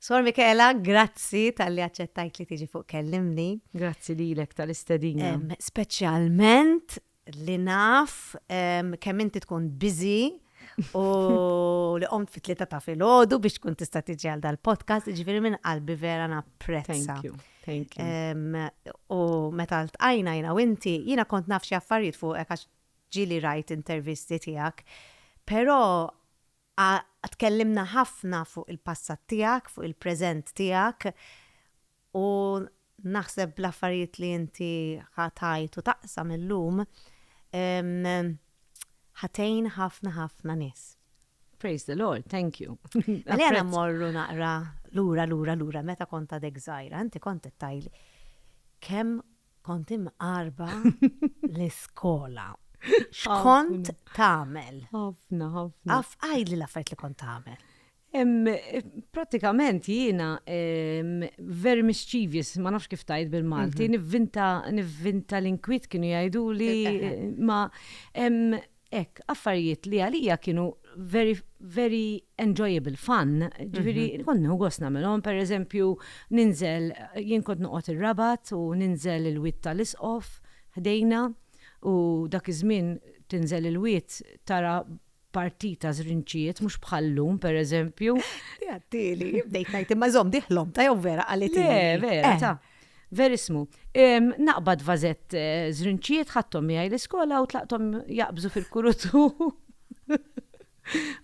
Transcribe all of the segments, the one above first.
Sor Michaela, grazzi talli aċċettajt li tiġi fuq Kellimni. Grazzi lilek tal-istedina. Speċjalment li naf kemm inti tkun busy u li qomt fit tlieta ta' filgħodu biex tkun tista' tiġi għal dal-podcast, ġifieri minn qalbi vera napprezza. Thank you. Thank you. U meta ltqajna jiena u inti, jiena kont naf xi affarijiet fuqek għax ġieli rajt intervisti tiegħek, però A Tkellimna ħafna fuq il-passat tiegħek, fuq il-preżent tiegħek u naħseb l-affarijiet li inti ħa tgħid u taqsam illum ħa tgħin ħafna ħafna nies. Praise the Lord, thank you. Għalina mmorru naqra lura lura lura meta kont għadek żgħira, inti kont qed tgħidli kemm Kont imqarba l-iskola. X'kont tagħmel? Ħafna, ħafna. Għaf għajli l-affarijiet li kont tagħmel. Pratikament jiena very mischievous, ma nafx kif tajt bil-Malti, mhm. nivvinta nivvinta l-inkwit kienu jgħidu li eh, eh, eh. ma Hekk, affarijiet li għalija kienu very, very enjoyable, fun, ġifieri kont nieħu gost nagħmilhom, pereżempju ninżel, jien kont noqgħod ir-Rabat u ninżel il-Wied tal-Isqof ħdejna u dak iż-żmien tinżel il-wied tara parti ta' żrinċijiet mhux bħal llum pereżempju. Ti għadtieli, bdejt ngħid imma żomm dieħlhom, ta' jew vera qalithili. Le, vera, ta'. Verissmu. Naqbad vażett żrinċijiet, ħadthom miegħi l-iskola u tlaqthom jaqbżu fil-kurutu.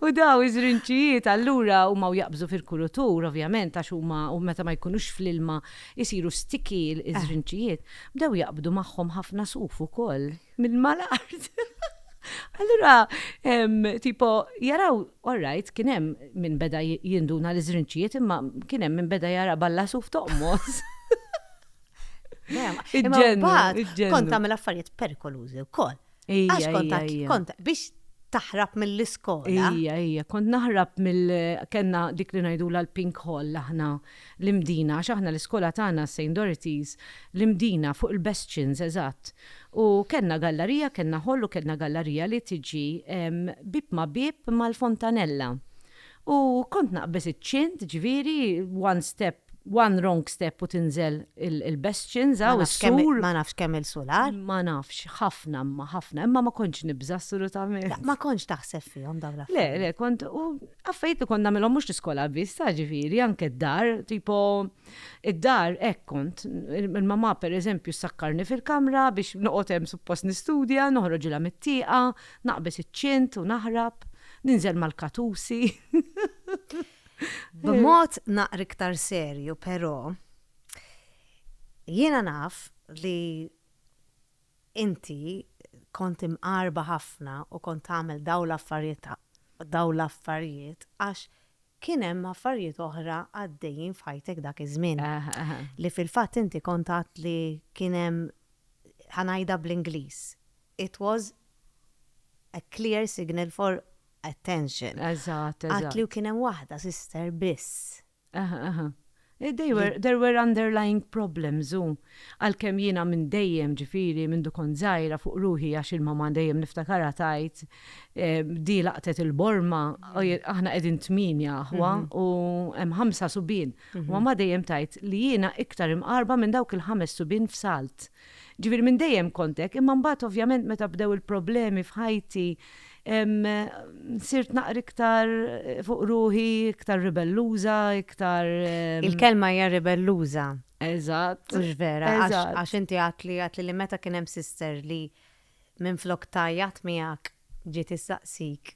U daw iż-żrinċijiet allura huma jaqbżu fil-kurutur, ovvjament, għax huma u meta ma jkunux fl-ilma jsiru sticky iż-żrinċijiet. Bdew jaqbdu magħhom ħafna suf ukoll. Minn mal-art. Allura, tipo, jaraw, all right, kien hemm minn beda jinduna l-iżrinċijiet, imma kien hemm minn beda jara balla suf toqmos. Iġġennu, iġġennu. Kont tagħmel affarijiet perikolużi wkoll. Għax kont kont biex taħrab mill-iskola. Ija, ija, kont naħrab mill kenna dik li ngħidula l-pink hall aħna. L-Imdina, għax aħna l-iskola tagħna Saint Dorothys, l-Imdina, fuq il-Bastions, eżatt. U kellna gallarija, kellna hall u kellna gallarija li tiġi bieb ma' bieb mal-fontanella. U kont naqbeż iċ-ċint, jiġifieri, one step, one wrong step u tinżel il-Bastions, hawn is-sur. Ma nafx kemm-il sular. Ma nafx, ħafna imma, ħafna. Imma ma kontx nibża' assolutament. Ma kontx taħseb fihom dawn l-affarijiet. Le, le, kont, u Affarijiet li kont nagħmilhom mhux l-iskola biss, tara ġifieri, anke d-dar, tipo id-dar hekk kont, il-mamà pereżempju ssakkarni fil-kamra biex noqgħod hemm suppost nistudja, noħroġilha mit-tieqa, naqbeż iċ-ċint u naħrab, ninżel mal-katusi. B'mod naqra iktar serju però, jiena naf li Inti kont imqarba ħafna u kont tagħmel dawn l-affarijiet dawn l-affarijiet għax kien hemm affarijiet oħra għaddejjin f'ħajtek dak iż-żmien. Li fil-fatt inti kont għedt li kien hemm ħa ngħidha bl-Ingliż, it was a clear signal for attention. Għedt li kien hemm waħda sister biss. Aha, aha. They were, there were underlying problems u, għalkemm jiena minn dejjem, ġifieri, mindu kont żgħira fuq ruħi għax il-mamà dejjem niftakarha tgħid, di laqtet il-borma, aħna qegħdin tmienja aħwa u hemm ħamsa subien, u mamà dejjem tgħid li jiena iktar imqarrba minn dawk il-ħames subien f'salt. Ġifieri minn dejjem kont hekk, imma mbagħad ovvjament meta bdew il-problemi f'ħajti sirt naqra iktar fuq ruħi, iktar ribelluża, iktar. Il-kelma hija ribelluża. Eżatt. Mhux vera, għax inti għedtli għedtli li meta kien hemm sister li minflok tgħajjat miegħek ġiet issaqsik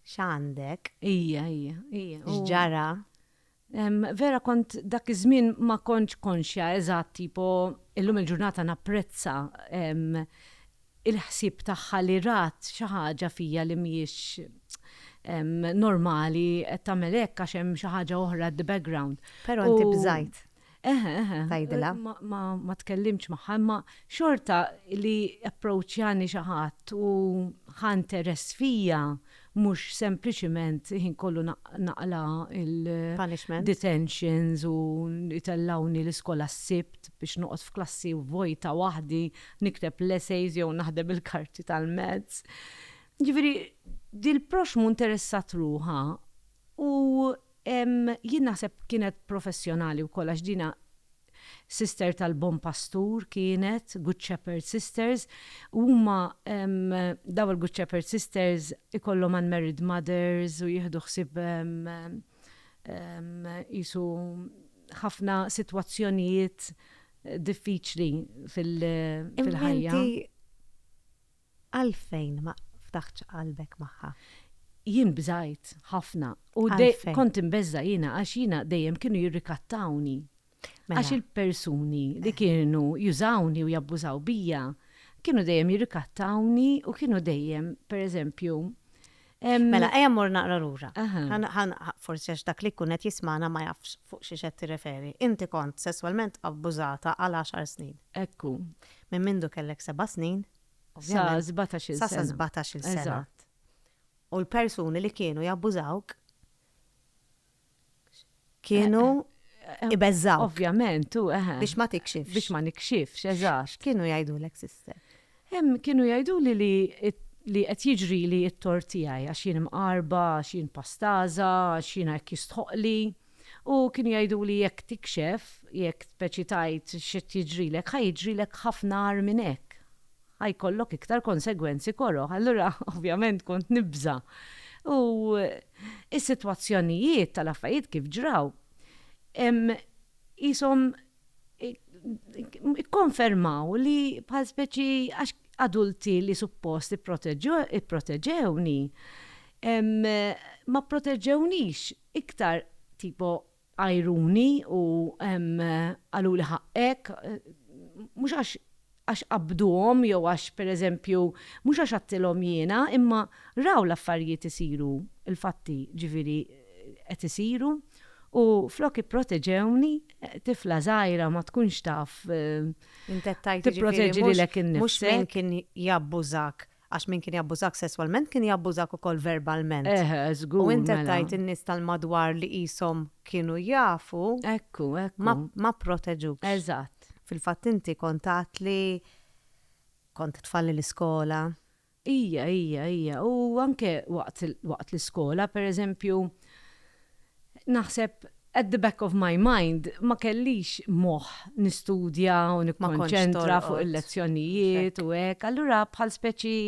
x'għandek. Hija, hija, hija. X'ġara? Vera kont dak iż-żmien ma kontx konxja eżatt tipo illum il-ġurnata napprezza il-ħsieb tagħha li rat xi ħaġa fija li mhijiex normali qed tagħmel hekk għax hemm xi ħaġa oħra at the background. Però inti bżajt. Eħe, eħe. Tgħidilha. Ma tkellimx magħha, imma xorta li approċċjani xi ħadd u ħa interess fija mhux sempliċiment ħin kollu naqla' il-detentions u jtellgħuni l-iskola s-Sibt biex noqgħod f'klassi vojta waħdi nikteb l-essays jew naħdem il-karti tal-maths. Jiġifieri, dil-proxxmu interessat ruħha u Jien naħseb kienet professjonali wkoll għax dinha sister tal-Bon Pastur kienet, Good Shepherd Sisters, u huma dawn il-Good Shepherd Sisters ikollhom unmarried mothers u jieħdu ħsieb qisu ħafna sitwazzjonijiet diffiċli fil-ħajja. Għalfejn ma ftaħtx qalbek magħha? Jien bżajt ħafna u kont imbeżża' jiena għax jiena dejjem kienu jirrikattawni. Għax il-persuni li kienu jużawni u jabbużaw bija kienu dejjem jirrikattawni u kienu dejjem, pereżempju, Mela, ejja mmur naqra lura. Forsi għax dak li jkun qed jismagħna ma jafx fuq xiex qed tirreferi. Inti kont sesswalment abbużata għal għaxar snin. Ekku. Minn mindu kellek seba' snin. Sa sbatax-il sena. Sa sbatax-il sena. Eżatt. U l-persuni li kienu jabbużawk kienu ibeżżaw. Ovvjament, u eħe. Biex ma tikxifx. Biex ma nikxifx, eżatt. Kienu jgħidu l sister? Hemm kienu jgħidu li li li qed jiġri li t-tort tiegħi għax jien mqarba, għax jien pastaża, għax jiena hekk jistħoqqli. U kienu jgħidu li jekk tikxef, jekk speċi tgħid x'qed jiġrilek, ħa jiġrilek ħafna agħar minn hekk. Ħa jkollok iktar konsegwenzi koroh. Allura, ovvjament kont nibża'. U s-sitwazzjonijiet tal-affarijiet kif ġraw, qishom ikkonfermaw li bħal speċi għax adulti li suppost ipproteġewni, ma pproteġewnix iktar tipo għajruni u qaluli ħaqqek, mhux għax għax qabbduhom jew għax, per eżempju, mhux għax għadtilhom jiena, imma raw l-affarijiet isiru, il-fatti, ġifieri, qed isiru, u flok ipproteġewni, tifla żgħira ma tkunx taf tipproteġi lilek innifsek. Int qed tgħid, jiġifieri, mhux mhux min kien jabbużak Għax min kien jabbużak sesswalment kien jabbużak ukoll verbalment. Eh, żgur, mela. U int qed tgħid in-nies tal-madwar li qishom kienu jafu. Ekku, ekku. Ma, ma pproteġukx. Eżatt. Fil-fatt inti kont għedt li kont tfalli l-iskola. Ija, ija, ija. U anke waqt, waqt l-iskola, pereżempju, Naħseb, at the back of my mind, ma kellix moħħ nistudja u nikkonċentra fuq il-lezzjonijiet u hekk. Allura bħal speċi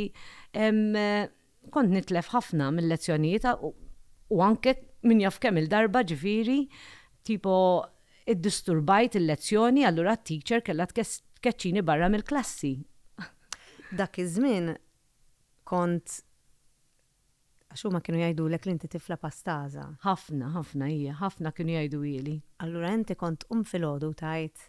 kont nitlef ħafna mil-lezzjonijiet u anke min jaf kemm il-darba ġifieri tipo iddisturbajt il-lezzjoni allura t-teacher kellha tkeċċini barra mill-klassi. Dak iż-żmien kont Għax huma kienu jgħidulek li inti tifla pastaża. Ħafna, ħafna, ija, ħafna kienu jgħiduhieli. Allura inti kont tqum filgħodu u tgħid.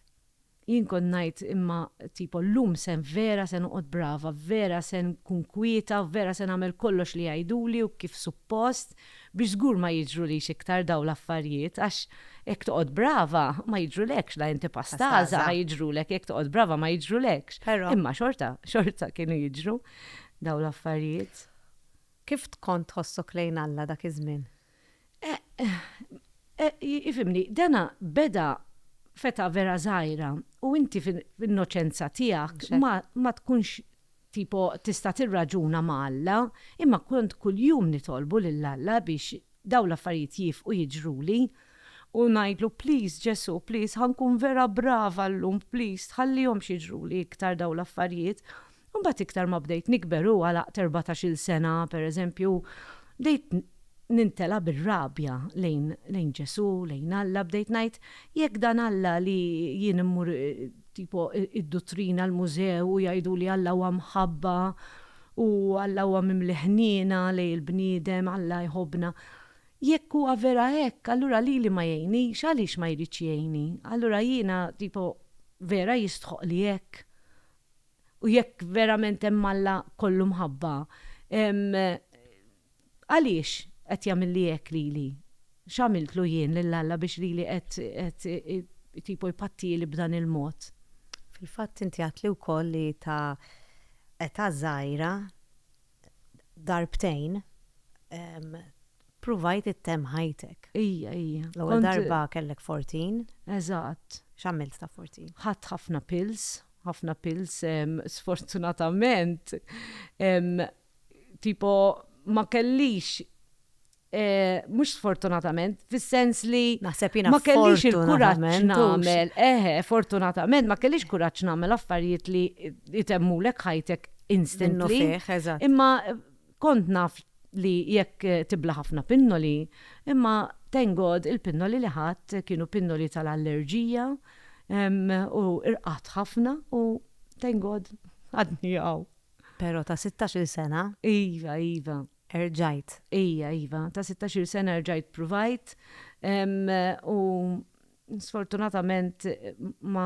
Jien kont ngħid, imma tipo llum se vera se noqgħod brava, vera se nkun kwieta, vera se nagħmel kollox li jgħiduli u kif suppost biex żgur ma jiġrulix iktar dawn l-affarijiet għax jekk toqgħod brava ma jiġrulekx la inti pastaża ħa jiġrulek jekk toqgħod brava ma jiġrulekx. Imma xorta, xorta kienu jiġru. dawn l-affarijiet. Kif tkont tħossok lejn Alla dak iż-żmien? Ifhimni, dana beda f'età vera żgħira u inti fl-innoċenza tiegħek ma tkunx tipo tista' tirraġuna ma' Alla, imma kont kuljum nitolbu lil Alla biex Dawn l-affarijiet jiefqu jiġruli u ngħidlu, Please Ġesù, please ħa nkun vera brava llum, please tħallihomx jiġruli iktar dawn l-affarijiet. U mbagħad iktar ma bdejt nikber u għalaqt erbatax-il sena, pereżempju, bdejt nintela' bir-rabja lejn lejn Ġesù, lejn Alla, bdejt ngħid, Jekk dan Alla li jien immur tipo id-duttrina, l-mużew u jgħiduli Alla huwa mħabba, U Alla huwa mimli ħniena lejn il-bniedem, Alla jħobbna. Jekk huwa vera hekk, allura lili ma jgħinnix, għaliex ma jridx jgħinni? Allura jiena, tipo, vera jistħoqqli hekk? U jekk verament hemm Alla kollu mħabba, ehm, Għaliex qed jagħmilli hekk lili? X'għamiltlu jien lil Alla biex lili qed tipo jpattieli b'dan il-mod? Fil-fatt inti għedtli wkoll li ta' età żgħira darbtejn ppruvajt ittemm ħajtek. Ija, ija. L-ewwel darba kellek fortin. Eżatt. X'għamilt ta' fortin? Ħadt ħafna pills, ħafna pills sfortunatament Tipo, ma kellix, mhux sfortunatament, fis-sens li. Naħseb jiena fortunatament. Eħe, fortunatament, ma kellix kuraġġ nagħmel affarijiet li jtemmulek ħajtek instantly. Minnu fih, eżatt. Imma kont naf li jekk tibla' ħafna pinnoli, imma thank God il-pinnoli li ħadt kienu pinnoli tal-allerġija u rqadt ħafna u thank God għadni hawn. Pero ta' sittax-il sena. Iva, iva. Erġajt. Ija, iva. Ta' sittax-il sena erġajt pruvajt u sfortunatament ma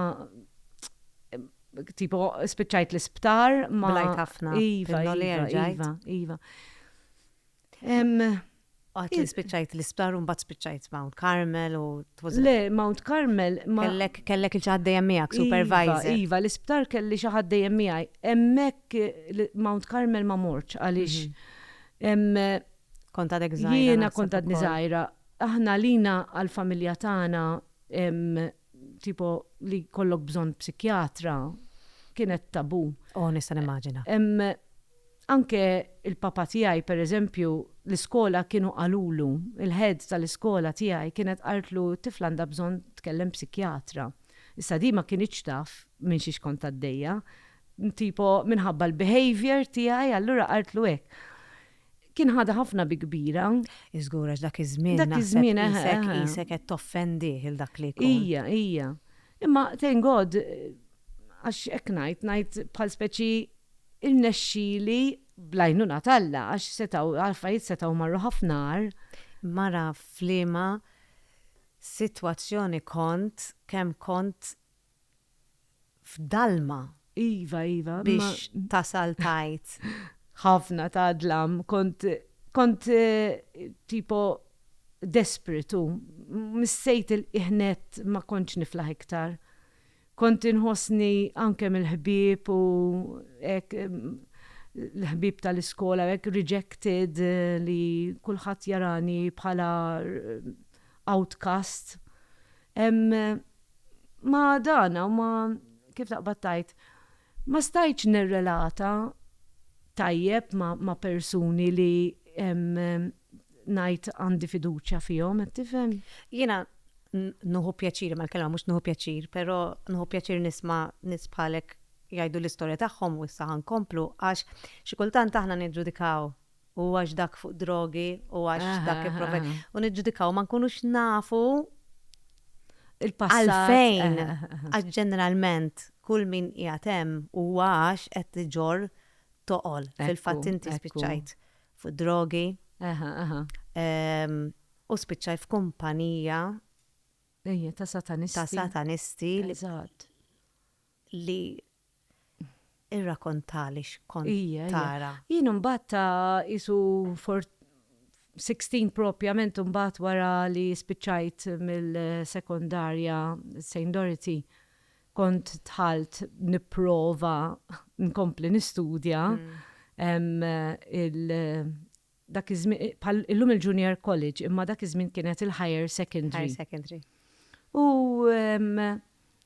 tipo spiċċajt l-isptar ma. Blajt ħafna. Iva, iva, iva. Għat li spiċċajt l-isptar un bat spiċċajt Mount Carmel u Le, Mount Carmel. Kellek, kellek il-ċaħad dejjem miegħek, iva, supervisor. Iva, iva l-isptar kelli ċaħad dejjem miegħi. Emmek Mount Carmel ma morċ għaliex. Mhm. Konta dek zaħira. Jiena konta dni zaħira. Aħna lina għal-familja tagħna tipo li kollok bżon psikjatra kienet tabu. Oh, nista' nimmaġina. Anke l-papa tiegħi, per eżempju, l-iskola kienu qalulu, il-head tal-iskola tiegħi kienet qaltlu t-tifla għandha bżonn tkellem psikjatra. Issa di ma kinitx taf minn xiex kont għaddejja, tipo minħabba l-behaviour tiegħi allura qaltlu hekk. Kien ħadha ħafna bi kbira. Żgur għax dak iż-żmien naħseb qisek qisek qed toffendih il dak li jkun. Ija, ija. Imma thank God għax hekk ngħid, ngħid bħal speċi rnexxieli bl-għajnuna t'Alla għax setgħu l-affarijiet setgħu marru ħafna agħar. Mara f'liema sitwazzjoni kont kemm kont f'dalma Iva, iva. Biex tasal tgħid. Ħafna ta' dlam. Kont, kont tipo desperate u missejt ilqiegħ nett ma kontx niflaħ iktar. Kont inħossni anke mill-ħbieb u hekk, l-ħbieb tal-iskola u hekk rejected li kulħadd jarani bħala outcast. Ma dan, u ma kif taqbad tajt, ma stajtx nirrelata tajjeb ma' persuni li ngħid għandi fiduċja fihom, qed tifhem? Jiena nieħu pjaċir, imma l-kelma mhux nieħu pjaċir, però nieħu pjaċir nisma' nies bħalek jgħidu l-istorja tagħhom u issa ħa nkomplu għax xi kultant aħna niġġudikaw u għax dak fuq drogi u għax dak ipprova. U niġġudikaw ma nkunux nafu għalfejn għax ġeneralment kull min qiegħed hemm u għax qed tiġor toqol fil-fatt inti spiċċajt fuq drogi u spiċċaj f'kumpanija ta' satanisti. Ta' satanisti. Eżatt. li irrakontali x'kont tara. Jien imbagħad ta' qisu for sixteen propjament imbagħad wara li spiċċajt mill-sekondarja St. Dorothy kont dħalt nipprova nkompli nistudja il- Dak iż-żmien, bħal illum il-Junior College, imma dak iż-żmien kienet il-Higher Secondary. Higher Secondary. U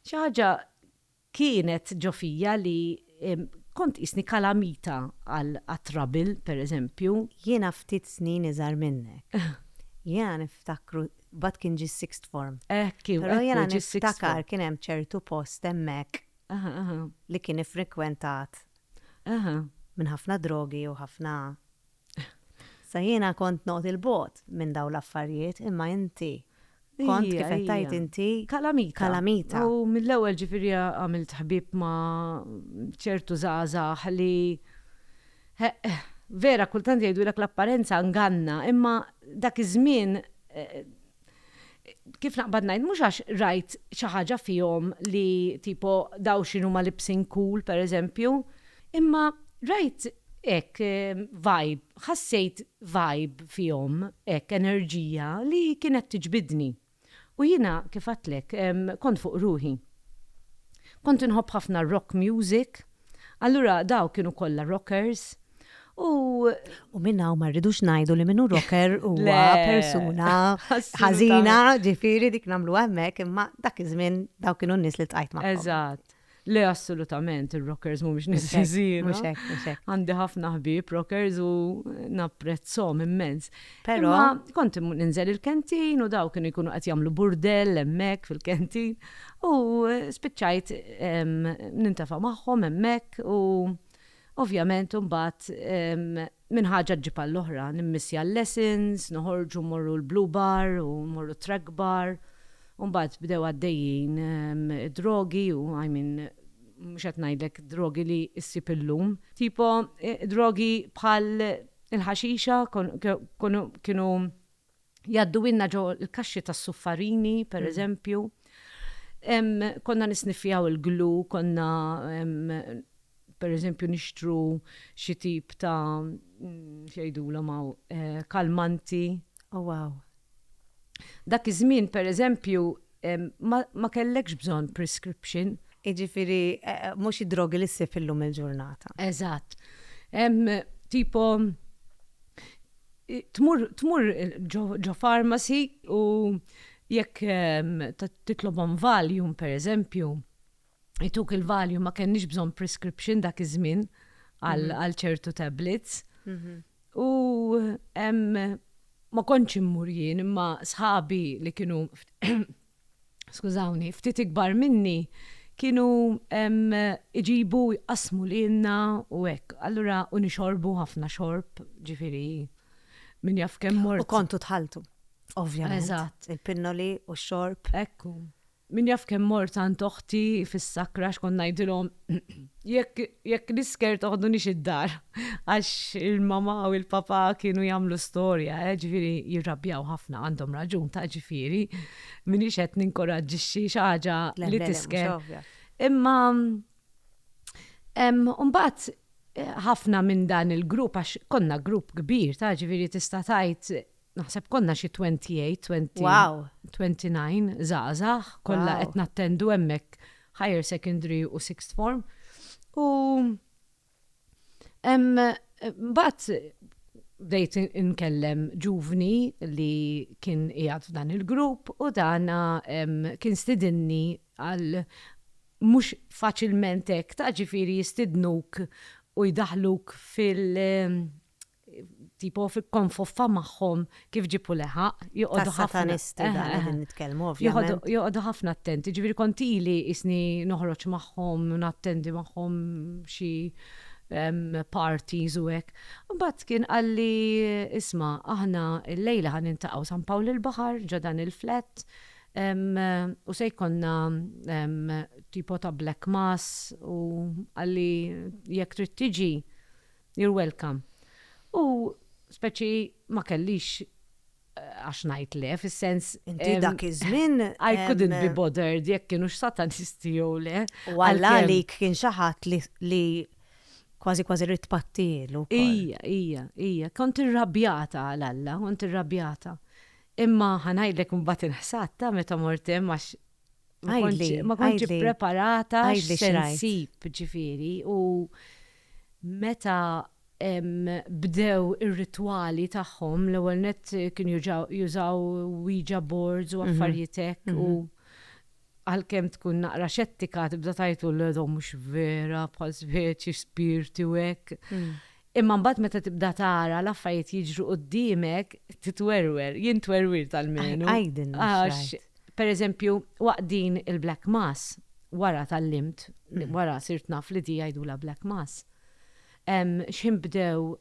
xi ħaġa kienet ġo fija li kont tqisni kalamita għat-trouble, pereżempju. Jiena ftit snin iżgħar minnek. Jiena niftakru, mbagħad kien ġie s-sixth form. Hekk kien, però jiena niftakar kien hemm ċertu post hemmhekk li kien iffrikwentat minn ħafna drogi u ħafna Sa jiena kont noqgħod il-bogħod minn dawn l-affarijiet imma inti kont kif qed tgħid inti kalamita. Kalamita. U mill-ewwel ġifieri għamilt ħbieb ma' ċertu żgħażagħ li vera kultant jgħidulek l-apparenza nganna imma dak iż-żmien kif naqbad ngħid mhux għax rajt xi ħaġa fihom li tipo daw x'inhuma libsin cool pereżempju, imma rajt hekk vibe, ħassejt vibe fihom hekk enerġija li kienet tiġbidni. U jiena kif għedtlek kont fuq ruħi. Kont inħobb ħafna r-rock music, Allura dawk kienu kollha rockers u U minn hawn ma rridux ngħidu li min hu rocker huwa Le. persuna Assolutament. ħażina, ġifieri dik nagħmlu hemmhekk, imma dak iż-żmien dawk kienu n-nies li ltqajt magħhom. Eżatt. Le assolutament ir-rockers mhumiex nies Mhux hekk, ħżiena. Mhux hekk, mhux hekk. Għandi ħafna ħbieb rockers u napprezzhom immens. Pero. Ma kont ninżel il-kentin u daw kienu jkunu qed jagħmlu burdell hemmhekk fil-kentin u eh, spiċċajt nintafa' magħhom hemmhekk u ovvjament imbagħad minn ħaġa ġib għall-oħra nimmissja l-lessons, noħorġu morru l-blue bar u morru track bar. Umbat bdew għaddejjin drogi u I mean mhux qed ngħidlek drogi li issib illum. Tipo eh, drogi bħal Il-ħaxixa kienu jgħadduhielna ġo l-kaxxi tas-suffarini, pereżempju. Konna nisniffjaw il-glu, konna pereżempju nixtru xi tip ta' x'jgħidulhom hawn, kalmanti. Oh wow! Dak iż-żmien, per eżempju, ma kellekx bżonn prescription. Jiġifieri mhux id-drogi li ssib illum il-ġurnata. Eżatt. Hemm tipo tmur tmur ġo pharmacy u jekk titlobhom Valium, per eżempju, ituk il-valju ma kenniex bżonn prescription dak iż-żmien għal mhm. ċertu tablets. Mhm. U ma kontx immur jien imma sħabi li kienu skużawni, ftit ikbar minni kienu iġibu jqasmu li jenna u hekk. Allura u nixorbu ħafna xorb, ġifiri, min jaf kemm mort. U kontu tħaltu. Ovvjament. Eżatt. Il-pinnoli u xorb. Ekku. Min jaf kemm mort għand oħti fis-sakra x'kont ngħidilhom, Jekk, jekk l-isker toħdunix id-dar, għax il-mamà u l-papà kienu jagħmlu storja, eh, ġifieri jirrabjaw ħafna, għandhom raġun, ta' ġifieri, m'iniex qed ninkoraġġixxi xi ħaġa li tisker. Imma mbagħad ħafna minn dan il-grupp, għax konna grupp kbir, ta' ġifieri tista' tgħid naħseb konna xi 28, 20, wow. 29 żgħażagħ, kollha wow. qed nattendu hemmhekk higher secondary u sixth form. U mbagħad bdejt inkellem ġuvni li kien qiegħed f'dan il-grupp u dana kien stidinni għal mhux faċilment hekk ta' ġifieri jistidnuk u jdaħluk fil- tipo f'konfoffa magħhom kif ġib u leħaq, joqogħdu ħafna. Satanisti dan qegħdin nitkellmu ovvjament. Joqogħdu ħafna attenti, ġifieri kont ili qisni noħroġ magħhom, nattendi magħhom xi parties u hekk. Imbagħad kien qalli isma' aħna llejla ħa niltaqgħu San Pawl il-Baħar ġo dan il-flat u se jkollna tipo ta' black mass u qalli jekk trid tiġi You're welcome. U speċi ma kellix għax ngħid le, fis-sens. Inti dak iż-żmien. I couldn't be bothered jekk kienux satanisti jew le. U Alla għalik kien xi ħadd li kważi kważi rrid tpattilu. Ija, ija, ija. Kont irrabjata għal Alla, kont irrabjata. Imma ħa ngħidlek imbagħad inħsad ta' meta mort hemm għax Ma konċi preparata x'sensib ġifiri u meta bdew ir-ritwali tagħhom l-ewwel net kien jużaw Ouija boards u mhm. affarijiet hekk u mhm. għalkemm tkun naqra xettika tibda tajtu l-edhom mhux vera bħal speċi spirti u hekk. Mm. Imma mbagħad meta tibda tara l-affarijiet jiġru quddiemek, titwerwer, jien twerwirt almenu. Għidilna Għax, pereżempju, waqt din il-Black Mass, wara tgħallimt, wara sirt naf li di jgħidulha Black Mass, x'ħin bdew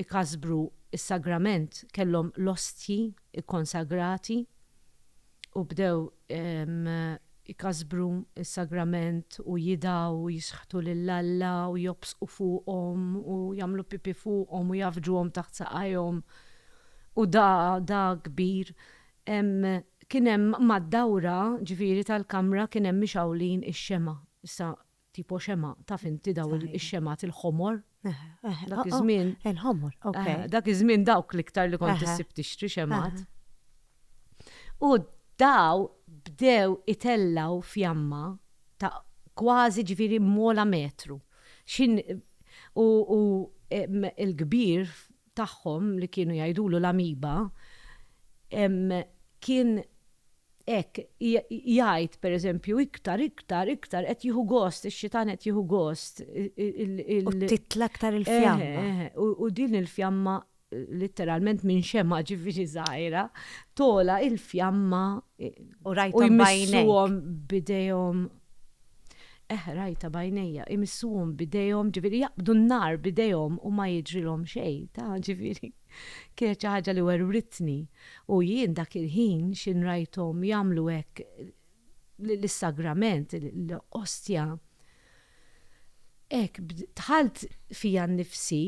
ikażbru s-sagrament, kellhom l-ostji kkonsagrati, u bdew ikasbru s-sagrament u jidgħu u jixħtu lil Alla u jobżqu fuqhom u jagħmlu pipì fuqhom u jgħaffġuhom taħt saqajhom u da da kbir kien hemm mad-dawra ġifieri tal-kamra kien hemm mixgħulin ix-xemgħa. Issa Tipo xemgħa, taf inti dawn ix-xemgħat il-ħomor? Eh, eh. Dak iż-żmien. Il-ħomor, ok. Eh, dak iż-żmien dawk l-iktar li kont issib tixtri xemgħat. U daw bdew itellgħu fjamma ta' kważi ġifieri mola metru. U il-kbir tagħhom li kienu jgħidulu l-Amoeba kien hekk jgħid pereżempju iktar iktar iktar qed jieħu gost ix-xitan qed jieħu gost il U titla' aktar il-fjamma. U din il-fjamma litteralment minn xemgħa ġifieri żgħira togħla il-fjamma u rajthom b'għajnejk. U jmissuhom b'idejhom. Eħ, rajtha b'għajnejja, imissuhom b'idejhom, ġifieri jaqbdu n-nar b'idejhom u ma jiġrilhom xejn, ta, ġifieri, kienet xi ħaġa li werwritni. U jien dak il-ħin x'in rajthom jagħmlu hekk lis-sagrament, l-Ostja. Hekk, dħalt fija nnifsi,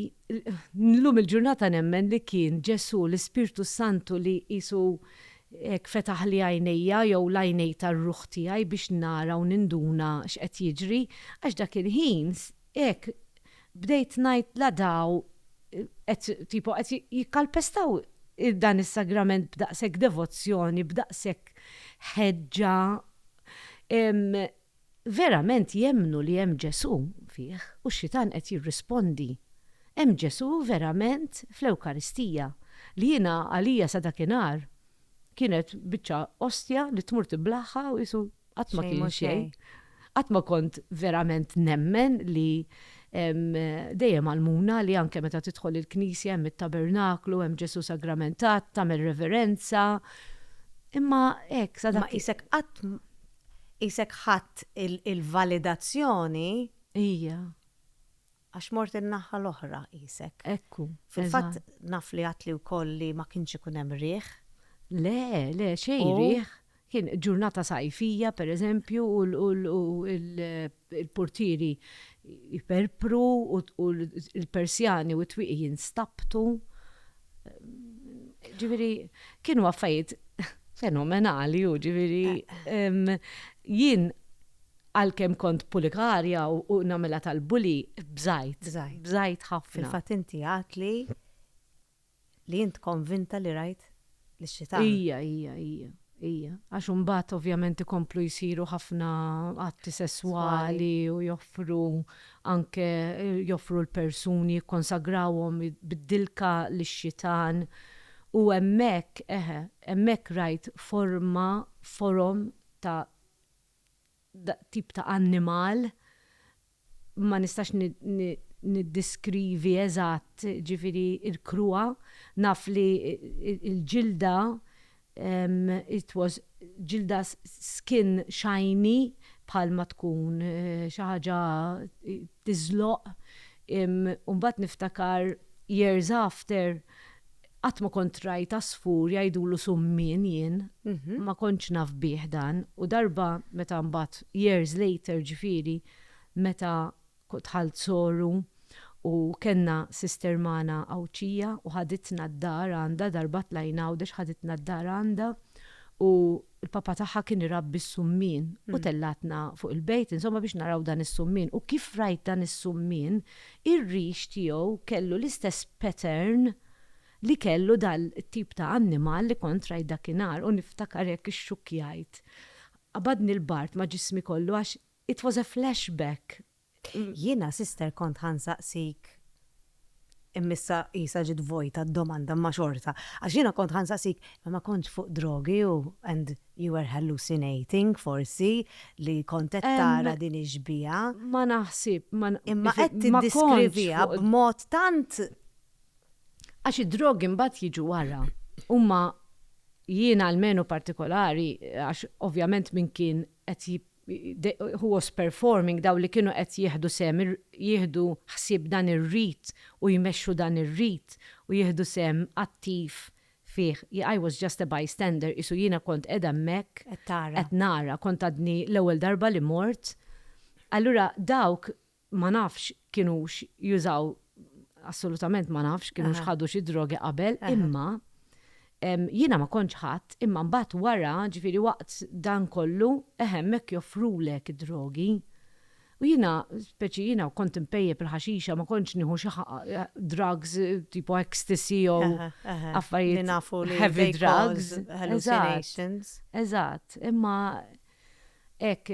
llum il-ġurnata nemmen li kien Ġesù, l-Ispirtu s-Santu li qisu Hekk fetaħli għajnejja, jew l-għajnej tar-ruħ tiegħi biex nara u ninduna x'qed jiġri, għax dak il-ħin, hekk, bdejt ngħid la daw qed, tipo, qed jikkalpestaw dan is-sagrament b'daqshekk devozzjoni, b'daqshekk ħeġġa, verament jemmnu li hemm Ġesù fih u x-xitan qed jirrispondi, hemm Ġesù verament fl-Ewkaristija, li jiena għalija sa dakinhar kienet biċċa ostja li tmur tiblaħħa u qisu qatt ma kien xejn. Qatt ma kont verament nemmen li hemm dejjem għallmuna li anke meta tidħol il-knisja hemm it-tabernaklu, hemm Ġesù sagramentat, tagħmel reverenza. Imma hekk sa dak. Imma qisek qatt Qisek ħadt il-validazzjoni. Hija. Għax mort in-naħa l-oħra qisek. Hekk hu. Fil-fatt naf li għedtli wkoll li ma kienx ikun hemm riħ. Le, le, xejn riħ. Kien ġurnata sajfija, pereżempju, u il-purtieri jperpru u l-persjani u t-twieqi jinstabtu. Ġifieri kienu affarijiet fenomenali u ġifieri jien għalkemm kont pulikarja u nagħmilha tal-bully, bżajt. Bżajt ħafna. Fil-fatt inti għedt li Li int konvinta li rajt lix-xitan. Ija, ija, ija, ija. Għax imbagħad ovvjament ikomplu jsiru ħafna atti sesswali u joffru anke joffru l-persuni jikkonsagrawhom bid-dilka lix-xitan u hemmhekk, eħe, hemmhekk rajt forma, forom ta' tip ta' annimal ma nistax niddiskrivi eżatt ġifieri l-kruha, naf li l-ġilda it was ġilda skin shiny bħalma tkun xi ħaġa tiżloq u mbagħad niftakar years after Qatt ma kont rajt għasfur jgħidulu summien jien, ma kontx naf bih dan u darba meta mbagħad years later ġifieri meta dħalt soru u kellna sister magħna Għawdxija u ħaditna d-dar għandha darba tlajna Għawdex ħaditna d-dar għandha u Il-papa tagħha kien irabbi s-summien u tellgħatna fuq il-bejt insomma biex naraw dan is-summien u kif rajt dan is-summien ir-rix tiegħu kellu l-istess pattern li kellu dan it-tip ta' annimal li kont rajt dakinhar u niftakar hekk ixxukkjajt. Qabadni l-bard ma' ġismi kollu għax it was a flashback. Jiena sister kont ħa nsaqsik imma issa qisha ġiet vojta d-domanda imma xorta. Għax jiena kont ħa nsaqsik imma ma kontx fuq drogi u and you were hallucinating forsi li kont qed tara din ix-xbieha. Ma naħsib, ma kontx fuq. Imma qed tiddiskriviha b'mod tant. Għax id-drogi mbagħad jiġu wara. Huma, jiena almenu partikolari, għax ovvjament min kien qed who was performing, dawk li kienu qed jieħdu sehem, jieħdu ħsieb dan ir-rit u jmexxu dan ir-rit u jieħdu sehem attiv fih, I was just a bystander, qisu jiena kont qiegħda hemmhekk qed nara, kont għadni l-ewwel darba li mort. Allura dawk Ma nafx kienux jużaw, assolutament ma nafx, kienux ħadu xi drogi qabel, imma jiena ma kontx ħadt, imma mbagħad wara, ġifieri waqt dan kollu, eħe hemmhekk joffrulek id-drogi. U jiena, speċi jiena kont inpejjep il-ħaxixa, ma kontx nieħu xi drugs tipo ecstasy jew affarijiet heavy drugs. Eżatt, eżatt, imma. Hekk,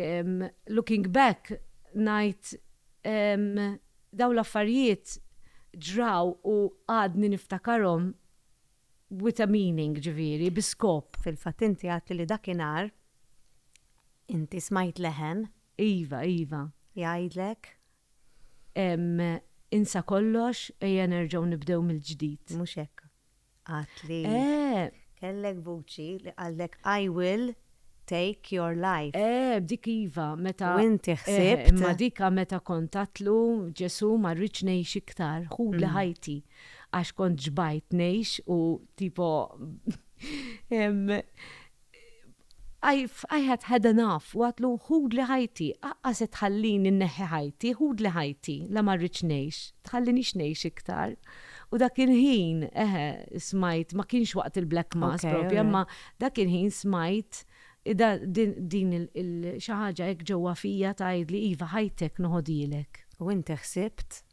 looking back, ngħid dawn l-affarijiet ġraw u għadni niftakarhom with a meaning, ġifieri, bi skop. Fil-fatt inti għedtli li dakinhar inti smajt leħen. Iva, iva. Jgħidlek? Insa kollox, ejja nerġgħu nibdew mill-ġdid. Mhux hekk. Għad li. Eh! Kellek vuċi li qallek I will take your life. Eh, b'dik iva, meta. U inti ħsibt. Imma dik meta kont għadtlu, Ġesù ma rridx ngħix iktar, ħudli ħajti, għax kont xbajt ngħix u tipo I had had enough, u għadlu, Ħudli ħajti, aqqas qed tħallini nneħħi ħajti, ħudli ħajti, la ma rridx ngħix, tħallinix ngħix iktar. U dak il-ħin, eħe, smajt, ma kienx waqt il-Black Mass proprju, imma dak il-ħin smajt din xi ħaġa hekk ġewwa fija tgħidli, iva, ħajtek noħodhielek. U inti ħsibt?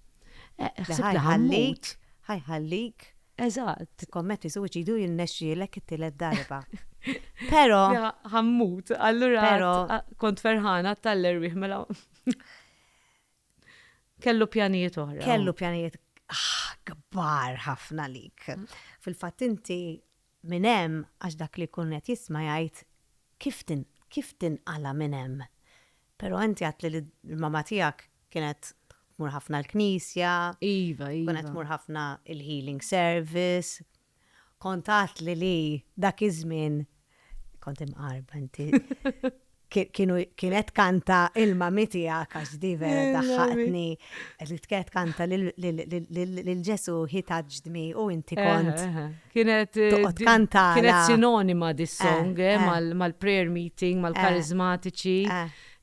Ħsibt li ħa mmut. Ħa jħallik. Eżatt, tikkommetti suwiċidju u jirnexxielek it-tielet darba. Però. Ja, ħammut, allura. Però. Kont ferħana tal-erwieħ mela. Kellu pjanijiet oħra. Kellu pjanijiet ah, kbar ħafna lik. Mm. Fil-fatt inti minn hemm għax dak li jkun qed jisma' jgħid kif tin kif tinqala minn hemm. Pero inti għedtli li l-mamma tiegħek kienet tmur ħafna l-knisja. Iva, iva. Kienet tmur ħafna il-healing service. Kont għedtli li dak iż-żmien kont imqarba inti. Kienet kanta il-mammi tiegħek għax di vera daħħaqtni. Li tkett kanta lil Ġesu hi taġdmi u inti kont Kienet Toqgħod kantala. kienet sinonima di song eh, mal-prayer meeting, mal-karizmatiċi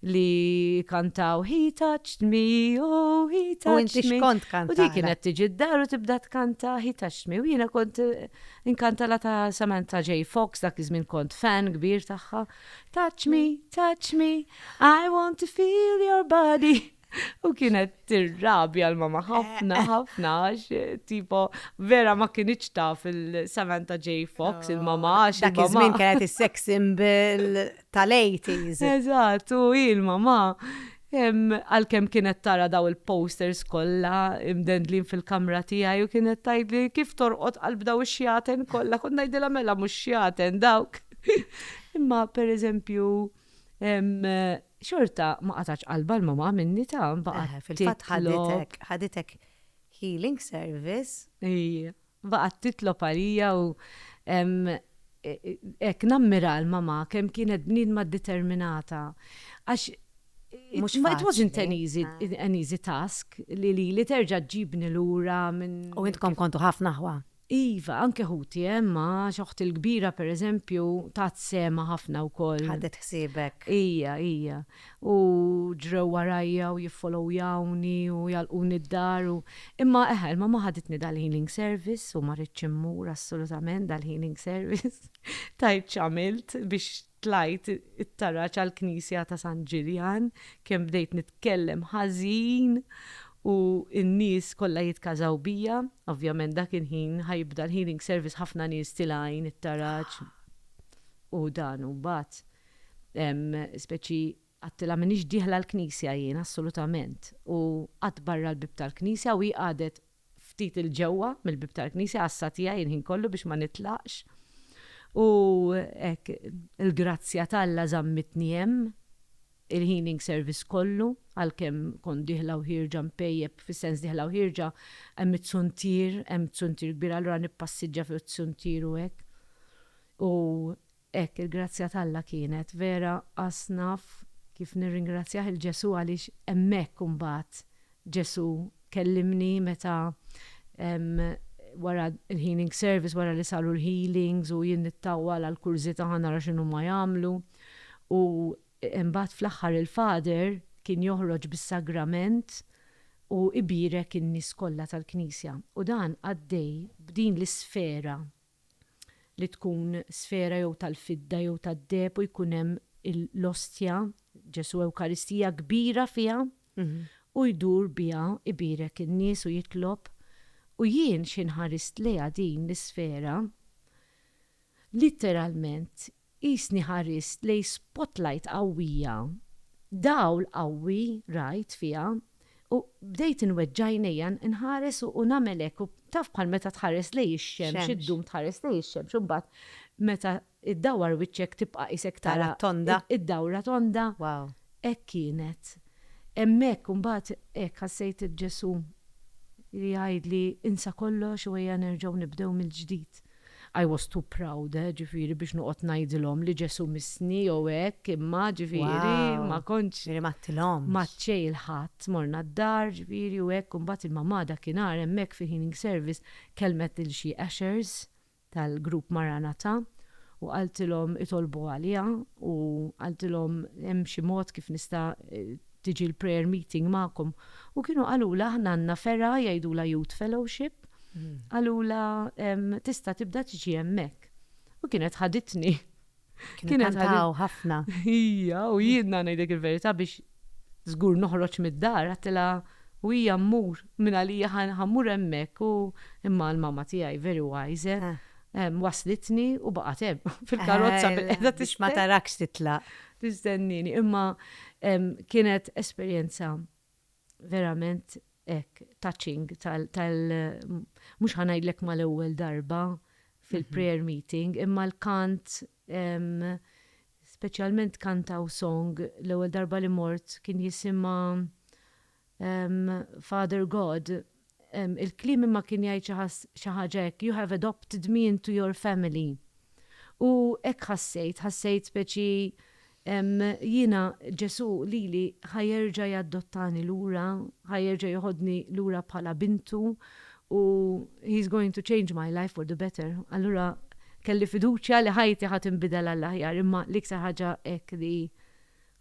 li kantaw He touched me, oh he touched me. U inti xkont kantala. U di kienet tiġi d-dar u tibda tkanta He touched me. U jiena kont eh, inkantala ta' Samantha J. Fox dak iż-żmien kont fan kbir tagħha. Touch me, touch me, I want to feel your body. U kienet tirrabja l-mama ħafna, eh, eh. ħafna, tipo, vera ma kienieċ ta' fil-Samantha J. Fox, oh, il-mama, għax. Dak iż-żmien kienet is-sex symbol tal-80s. Eżatt, u il-mama. Għal-kem kienet tara daw il-posters kolla imdendlin fil-kamra tijaj u kienet tajdli kif torqot qalb daw xjaten kolla, kun najdila mela mux xjaten dawk. Imma per eżempju, Xorta ma qatgħatx qalbha l-mamma minni ta' baqgħet titlob. Fil-fatt ħaditek, ħaditek healing service. Ija, baqgħet titlob għalija u hekk nammira l-mamma kemm kienet bniedma determinata għax it wasn't an easy, an easy task li lili terġa' ġġibni lura minn. U intkom kontu ħafna ħwa. Iva, anke ħuti hemm għax oħti l-kbira pereżempju tat sehemha ħafna wkoll. Ħadet ħsiebek. Hija, hija. U ġrew warajja u jiffollowyawni u jgħalquni d-dar u, imma eħe, il-mamma ħaditni dal-healing service u ma ridtx immur assolutament dal-healing service. Tgħid x'għamilt biex Tlajt it-taraġ għall-knisja ta' San Ġiljan, kemm bdejt nitkellem ħażin u n-nies kollha jitkażaw bija. Ovvjament dak il-ħin ħa jibda l-healing service ħafna nies tilgħin it-taraġ u dan u mbagħad hemm speċi Għadtilha m'iniex dieħla l-knisja jien assolutament u qatt barra l-bieb tal-knisja u hi qagħdet ftit 'il ġewwa mill-bieb tal-knisja għassa tiegħi il-ħin kollu biex ma nitlaqx u hekk il-grazzja t'Alla żammitni hemm il-healing service kollu għalkemm kont dieħla u ħierġa npejjep fis-sens dieħla u ħierġa hemm it-suntier hemm suntier kbir allura nippassiġġa fuq is-suntier u hekk u Hekk il-grazzja t'Alla kienet, vera qas naf kif nirringrazzjah 'il Ġesù għaliex hemmhekk imbagħad Ġesù kellimni meta wara l-healing service, wara li saru l-healings u jien nittawwal għall-kurżità ħa nara x'inhuma jagħmlu u imbagħad fl-aħħar il-Father kien joħroġ bis-sagrament u ibierek in-nies kollha tal-Knisja u dan għaddej b'din l-isfera. li tkun sfera jew tal-fidda jew tad-deheb u jkun hemm l-ostja, Ġesù Ewkaristija, kbira fiha, u jdur biha ibierek in-nies u jitlob, u jien xi nħarist lejha din l-isfera, litteralment Qisni ħarist lejn spotlight qawwija. Dawl qawwi rajt fiha u bdejt inweġġa' għajnejja nħares u nagħmel hekk u taf bħal meta tħares lejn ix-xemx iddum tħares lejn ix-xemx u mbagħad meta ddawwar wiċċek tibqa' qisek tara d-dawra tonda. Hekk kienet. Hemmhekk u mbagħad hekk ħassejt il-Ġesù li jgħidli insa kollox u ejja nerġgħu nibdew mill-ġdid. I was too proud, ġifieri, biex noqgħod ngħidilhom li Ġesù missni jew hekk, imma, ġifieri, ma kontx. Ġifieri ma għadtilhomx. Ma għadt xejn il-Ħadd, morna d-dar, ġifieri, u hekk, u mbagħad il-mamà dakinhar hemmhekk fil-healing service kellmet lil xi ushers tal-grupp Maranatha u qaltilhom itolbu għaliha u qaltilhom hemm xi mod kif nista' tiġi l-prayer meeting magħkom. U kienu qalula aħna għandna fergħa jgħidula Youth Fellowship, qalula tista' tibda tiġi hemmhekk. U kienet ħaditni. Kienet ħaditni ħafna. Hija u jiena ngħidlek il-verità biex żgur noħroġ mid-dar għattilha u hija mmur minn għalija ħammur hemmhekk u imma l-mamma tiegħi very wise waslitni u baqgħet hemm fil-karozza bil-qiegħda tixma tarakx titlaq. tistennini imma kienet esperjenza verament hekk touching tal mhux ħa ngħidlek mal-ewwel darba fil-prayer meeting imma l-kant speċjalment kantaw song l-ewwel darba li mort kien jisimha Father God, il-kliem imma kien jgħid xi ħaġa hekk, you have adopted me into your family. U hekk ħassejt, ħassejt speċi xi jiena Ġesù lili ħa jerġa' jaddottani lura, ħa jerġa' joħodni lura bħala bintu u he's going to change my life for the better. Allura kelli fiduċja li ħajti ħa tinbidel għall-aħjar imma l-iktar ħaġa hekk li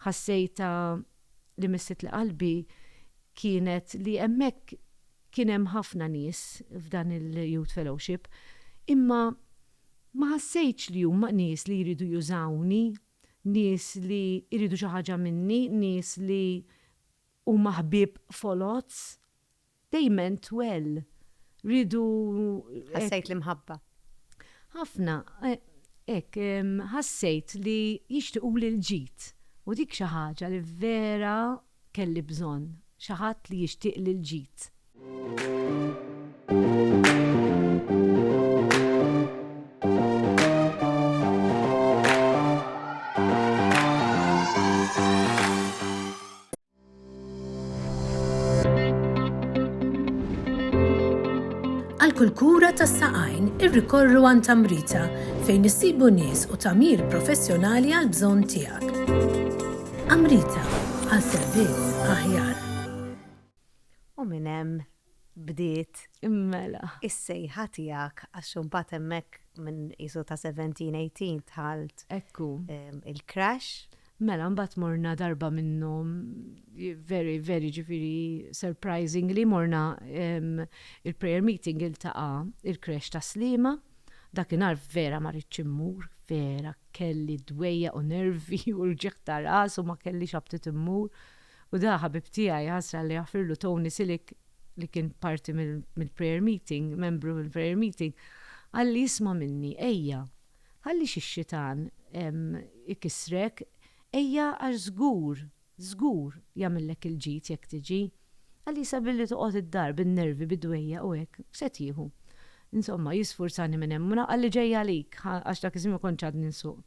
ħassejtha li missitli qalbi kienet li hemmhekk kien hemm ħafna nies f'dan il-Youth Fellowship, imma ma ħassejtx li huma nies li jridu jużawni, nies li jridu xi ħaġa minni, nies li huma ħbieb foloz. They meant well. Riedu hekk. Ħassejt l-imħabba. Ħafna, hekk, ħassejt li jixtiequli l-ġid. U dik xi ħaġa li vera kelli bżonn, xi ħadd li jixtieqli l-ġid. Għal kull kura tas-saqajn irrikorru għand Tamrita fejn issibu nies u tagħmir professjonali għal bżonn tiegħek. Amrita għal servizz aħjar. U minn hemm bdiet is-sejħa tiegħek għax imbagħad hemmhekk minn qisu ta' seventeen, eighteen dħalt il-crash. Mela imbagħad morna darba minnhom very very jiġifieri surprisingly morna il-prayer meeting iltaqa' il-crash ta' Sliema. Dakinhar vera ma ridtx immur, vera kelli dwejjaq u nervi u rġigħ ta' ras u ma kellix aptit immur. U da ħabib tiegħi, ħasra Alla jaħfirlu, Tony Silic, li kien parti mill-prayer meeting, membru mill-prayer meeting, qalli isma' minni, ejja, ħallix ix-xitan ikissrek, ejja għax żgur, żgur jagħmillek il-ġid jekk tiġi. Qalli issa billi toqgħod id-dar bin-nervi, bid-dwejjaq u hekk, x'se tieħu? Insomma, jisfurzani minn hemm u ngħid qalli ġej għalik, għax dak iż-żmien ma kontx għadni nsuq.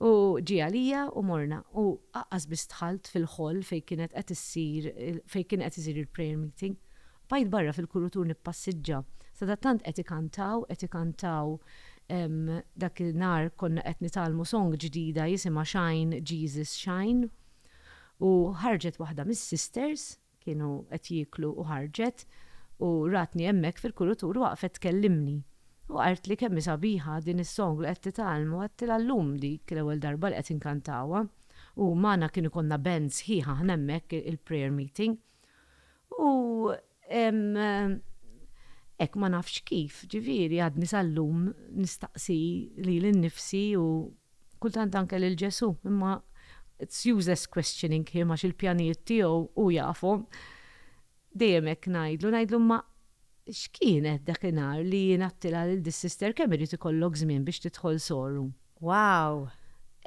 U ġie għalija u morna u aqqas biss dħalt fil-hall fejn kienet qed issir fejn kien qed isir il-prayer meeting. Bqajt barra fil-kurutur nippassiġġa. Sadattant qed ikantaw qed ikantaw ehm dak in-nhar konna qed nitgħallmu song ġdida jisimha Shine Jesus Shine u ħarġet waħda mis-sisters, Kienu qed jieklu u ħarġet u ratni hemmhekk fil-kurutur u waqfet tkellimni. U qaltli kemm hi sabiħa din is-song li qed titgħallmu għedtilha llum dik l-ewwel darba li qed inkantawha u magħna kien ikollna band sħiħ aħna hemmhekk il-prayer meeting u hekk ma nafx kif ġifieri għadni sal-lum nistaqsi lili nnifsi u Kultant anke lil Ġesù, imma it's useless questioning him għax il-pjanijiet tiegħu hu jafhom. Dejjem hekk ngħidlu, ngħidlu imma x'kienet dakinhar li jien għadtilha lil dis-sister kemm irid ikollok żmien biex tidħol soru? Wow!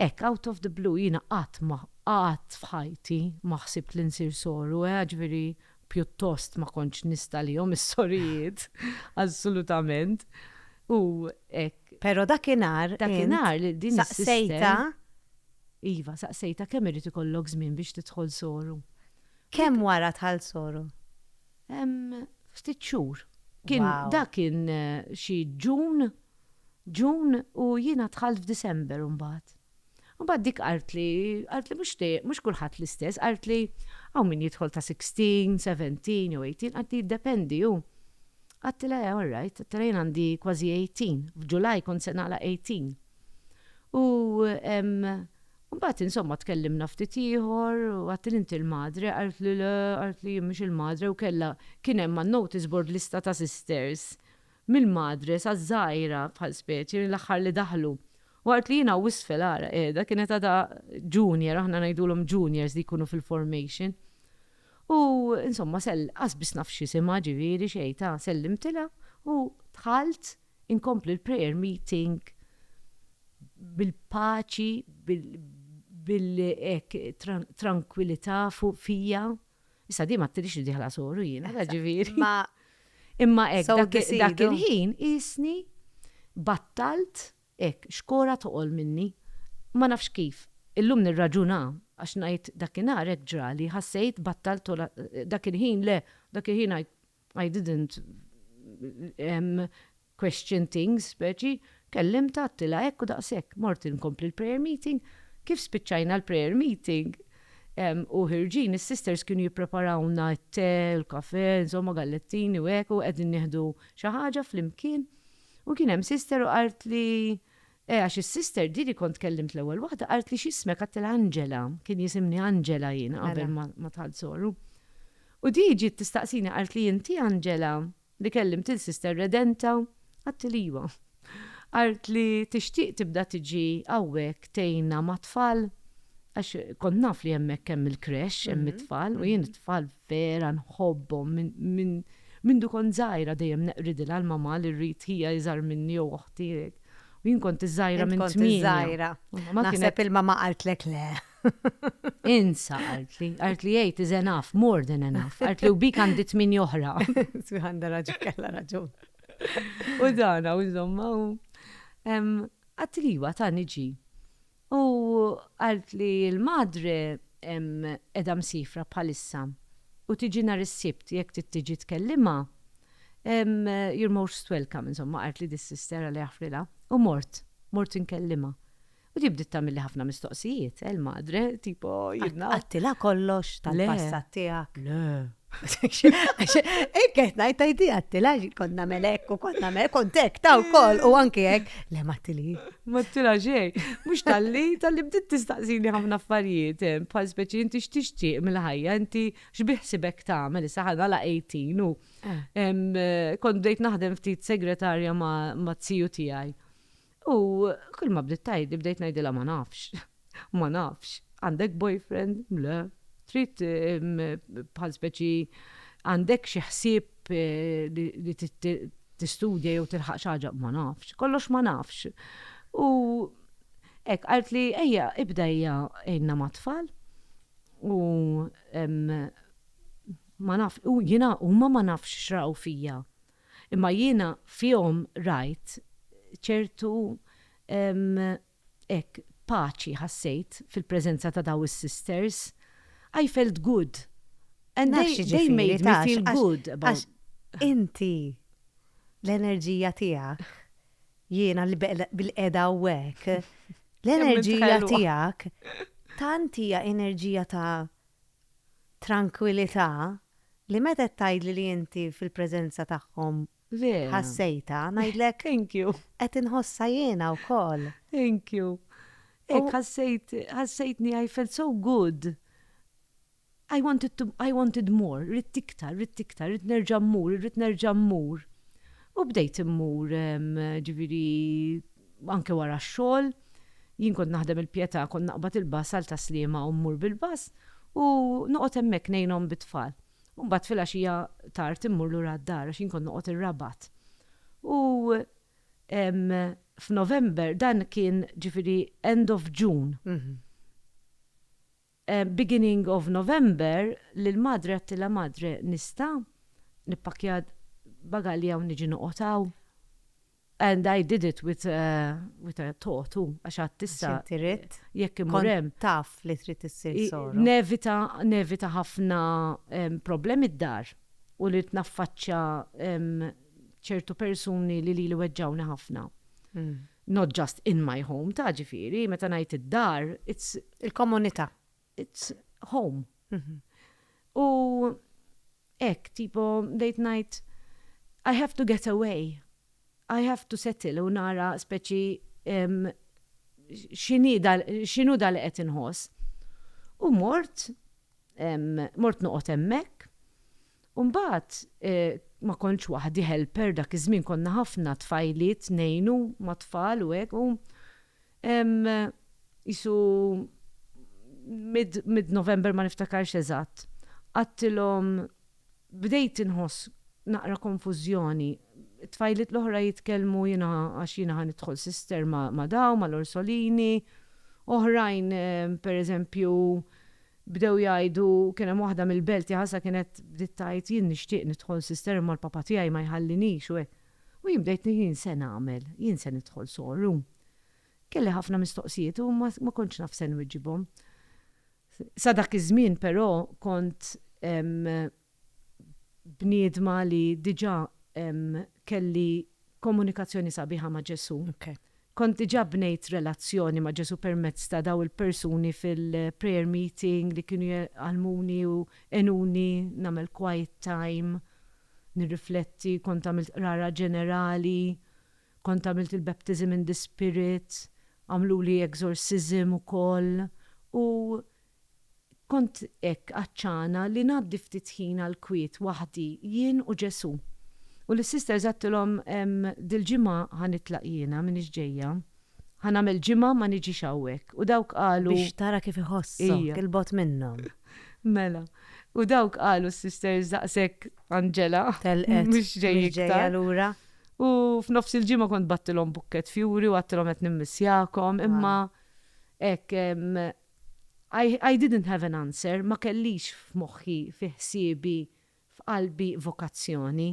Hekk out of the blue jiena qatt ma, qatt f'ħajti ma ħsibt li nsir soru, eħe ġifieri pjuttost ma kontx nista' lihom is-sorijiet, assolutament. U hekk. Pero dakinhar Dakinhar li din saqsejta Iva, saqsejta kemm irid ikollok żmien biex tidħol soru. Kemm wara dħalt soru? Ftit xhur. Kien dak kien xi Ġun, Ġun u jiena dħalt f'Disember imbagħad. Mbagħad dik qaltli, qaltli mhux dejjem, mhux kulħadd l-istess, qaltli hawn min jidħol ta' sixteen, seventeen jew eighteen, qaltli jiddependi hu. Għedtilha eh all right, għedtilha jien għandi kważi eighteen, f'July kont se nagħlaq eighteen. U mbagħad insomma tkellimna ftit ieħor u għedtilha inti l-madre, qaltli le, qaltli jien mhux il-madre u kellha, kien hemm man-notice board lista ta' sisters minn madre sa żgħira bħal speċi li l-aħħar li daħlu. Waqt li jiena u isfel ara qiegħda kienet għadha junior, aħna ngħidulhom juniors li jkunu fil-formation. U insomma sell, qas biss naf x'isimha ġifieri xejn ta' sellimtilha u dħalt inkompli l-prayer meeting bil-paċi, bil-, bil-, hekk, trankwilità fija. Issa di ma tridix li diħla soru jiena, ta' ġifieri. Ma imma hekk dak il-ħin isni battalt hekk xkora toqol minni. Ma nafx kif. Illum nirraġuna għax ngħid dakinhar hekk ġrali ħassejt battalt dak il-ħin le, dak il-ħin għidt I didn't question things speċi, kellimtha għedtilha hekk u daqshekk. Mort inkompli l-prayer meeting. Kif spiċċajna l-prayer meeting u ħirġin, is-sisters kienu jippreparawlna t-te u l-kafè, insomma gallettini u hekk u qegħdin nieħdu xi ħaġa flimkien u kien hemm sister u qaltli, Eh għax is-sister di li kont tkellimt l-ewwel waħda qaltli x'ismek għedtilha Angela, kien jisimni Angela jien qabel Mela. ma dħalt Soru. U di ġiet tistaqsini qaltli inti Angela li kellimt il-sister Redenta? Għedtilha iwa. Qaltli tixtieq tibda tiġi hawnhekk tgħinna mat-tfal? Għax kont naf li hemmhekk hemm il-creche, hemm it-tfal u jien it-tfal vera nħobbhom minn mindu kont żgħira dejjem neqridilha l-mamà li rrid hija iżgħar minni jew oħti hekk. U jien kont iżgħira minn tmien. Kont iżgħira. Naħseb ilma ma qaltlek le. Insa qaltli, qaltli jgħid is enough, more than enough. Qaltli u bik għandi tmien oħra. Għandha raġun, kellha raġun. U dana, u insomma, u. Għattiliwa ta' niġi. U għalt li l-Madre qiegħda msiefra bħalissa u tiġi nhar is-Sibt jekk trid tiġi tkellimha, you're most welcome insomma qaltli dis-sister Alla jaħfrilha. U mort, mort inkellimha. U di bdiet tagħmilli ħafna mistoqsijiet, eh l-Madre, tipo, you know. Qaltilha kollox tal-passat tiegħek? Le. Ekk qed ngħid tajdi għattila konna melek u konna melek kontek ta' wkoll u anke hekk le mattili. Mattila xej, mhux talli talli bdiet tistaqsini ħafna affarijiet eh, bħal speċi inti x'tixtieq mill-ħajja inti x'biħsibek tagħmel issa ħana la 18 u eh. Eh, kont bdejt naħdem ftit segretarja ma' ziju tiegħi. U kull ma bdiet tgħidli bdejt ngħidilha ma nafx. Ma nafx. Għandek boyfriend? Le. Trid bħal speċi għandek xi ħsieb li tistudja jew tilħaq xi ħaġa? Ma nafx. Kollox ma nafx. U hekk qaltli ejja ibda hija għinna mat-tfal u ma nafx u jiena huma ma nafx x'raw fija. Imma jiena fihom rajt ċertu, hekk, paċi ħassejt fil-preżenza ta' dawn is-sisters. I felt good. And they, they made me feel good about. Naf xi ġifieri, taf, għax inti, l-enerġija tiegħek, jiena li bil-qiegħda hawnhekk, l-enerġija tiegħek tant hija enerġija ta' trankwilità, li meta qed tgħidli li inti fil-preżenza tagħhom ħassejtha, ngħidlek qed inħossha jiena wkoll. Thank you. Hekk ħassejt, ħassejtni I felt so good. I wanted to, I wanted more, rrid iktar, rrid iktar, rrid nerġa' mmur, rrid nerġa' mmur. U bdejt immur, ġifieri anke wara x-xogħol. Jien kont naħdem il-Pietà, kont naqbad il-bass għal Ta' Sliema u mmur bil-bass u noqgħod hemmhekk ngħinhom bit-tfal. U mbagħad filgħaxija tard immur lura d-dar għax jien kont noqgħod ir-Rabat. U f'November, dan kien ġifieri end of June. Beginning of November lil madre għedtilha madre nista' nippakkja bagalji hawn niġi noqgħod hawn? And I did it with a with a thought u għax għadt issa Għax inti ridt? jekk immur Kont hemm taf li trid issir i- soro. nevita nevita ħafna em problemi d-dar u li naffaċċja em ċertu persuni li lili weġġgħuni ħafna. Not just in my home, ta' ġifieri, meta ngħid id-dar, it's. Il-komunità. It's home. U hekk, tipo, bdejt ngħid, I have to get away, I have to settle u nara speċi x'inhi da, x'inhu da li qed inħoss. U mort, mort noqgħod hemmhekk. U mbagħad ma kontx waħdi helper dak iż-żmien konna ħafna tfajliet ngħinu mat-tfal u hekk u hemm qisu mid mid November ma niftakarx eżatt qgħadtilhom bdejt inħoss naqra konfużjoni t-tfajliet l-oħra jitkellmu jiena għax jiena ħa nidħol sister ma' dawn mal-Orsolini oħrajn pereżempju Bdew jgħidu, kien hemm waħda mill-belt li ħasha kienet bdiet tgħid jien nixtieq nidħol sister imma l-papa tiegħi ma jħallinix u hekk. U jien bdejt ngħid jien se nagħmel, jien se nidħol sorru. Kelli ħafna mistoqsijiet u ma ma kontx naf se nwiġibhom. Sa dak iż-żmien però kont bniedma li diġà kelli komunikazzjoni sabiħa ma' Ġesù. Kont diġà bnejt relazzjoni ma' Ġesù permezz ta' dawn il-persuni fil-prayer meeting li kienu jgħallmuni u għenuni nagħmel quiet time, nirrifletti, kont għamilt qrara ġenerali, kont għamilt il-baptism in the Spirit, għamluli exorcism ukoll u Kont hekk għatxana li ngħaddi ftit ħin għall-kwiet waħdi jien u Ġesù. U lis-sisters għedtilhom, Dil-ġimgħa ħa nitlaq jiena, m'iniex ġejja. Ħa nagħmel ġimgħa ma niġix hawnhekk. U dawk qalu. Biex tara kif iħossok 'il bogħod minnhom. Mela. U dawk qalu s-sisters daqshekk Angela. Telqet. Mhux ġej iktar. Mhux ġejja lura. U f'nofs il-ġimgħa kont bgħattilhom bukkett fjuri u għedtilhom qed nimmissjakom, imma hekk I, I didn't have an answer, ma kellix f'moħħi, fi ħsiebi, f'qalbi vokazzjoni.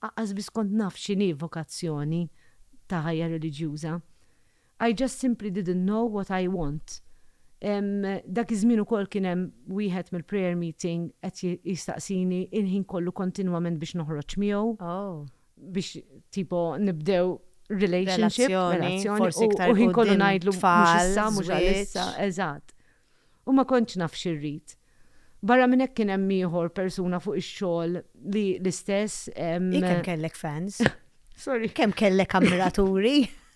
Aqqas biss kont naf x'inhi vokazzjoni ta' ħajja reliġjuża. I just simply didn't know what I want. Dak iż-żmien ukoll kien hemm wieħed mill-prayer meeting qed jistaqsini il-ħin kollu kontinwament biex noħroġ miegħu. Oh. biex tipo nibdew relationship, relazzjoni, u ħin kollu ngħidlu mhux issa, mhux għalissa, eżatt. U ma kontx naf xi rrid. Barra minn hekk kien hemm ieħor persuna fuq ix-xogħol li l-istess. Hi kemm kellek fans? Sorry. Kemm kellek ammiraturi?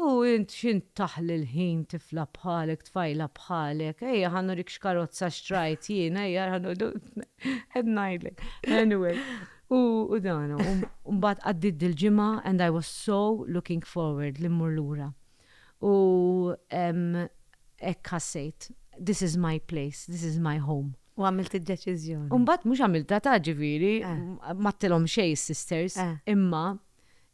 U int x'int taħli l-ħin tifla bħalek tfajla bħalek, ejja ħa nurik x'karozza xtrajt jien ejja ra noqogħdu qed ngħidlek. Anyway, u dan hu. U mbagħad għaddiet dil-ġimgħa and I was so looking forward li mmur lura. U hekk ħassejt, this is my place, this is my home. U għamilt id-deċiżjoni. U mbagħad mhux għamiltha ta' ġifieri m'għadtilhom xejn is-sisters imma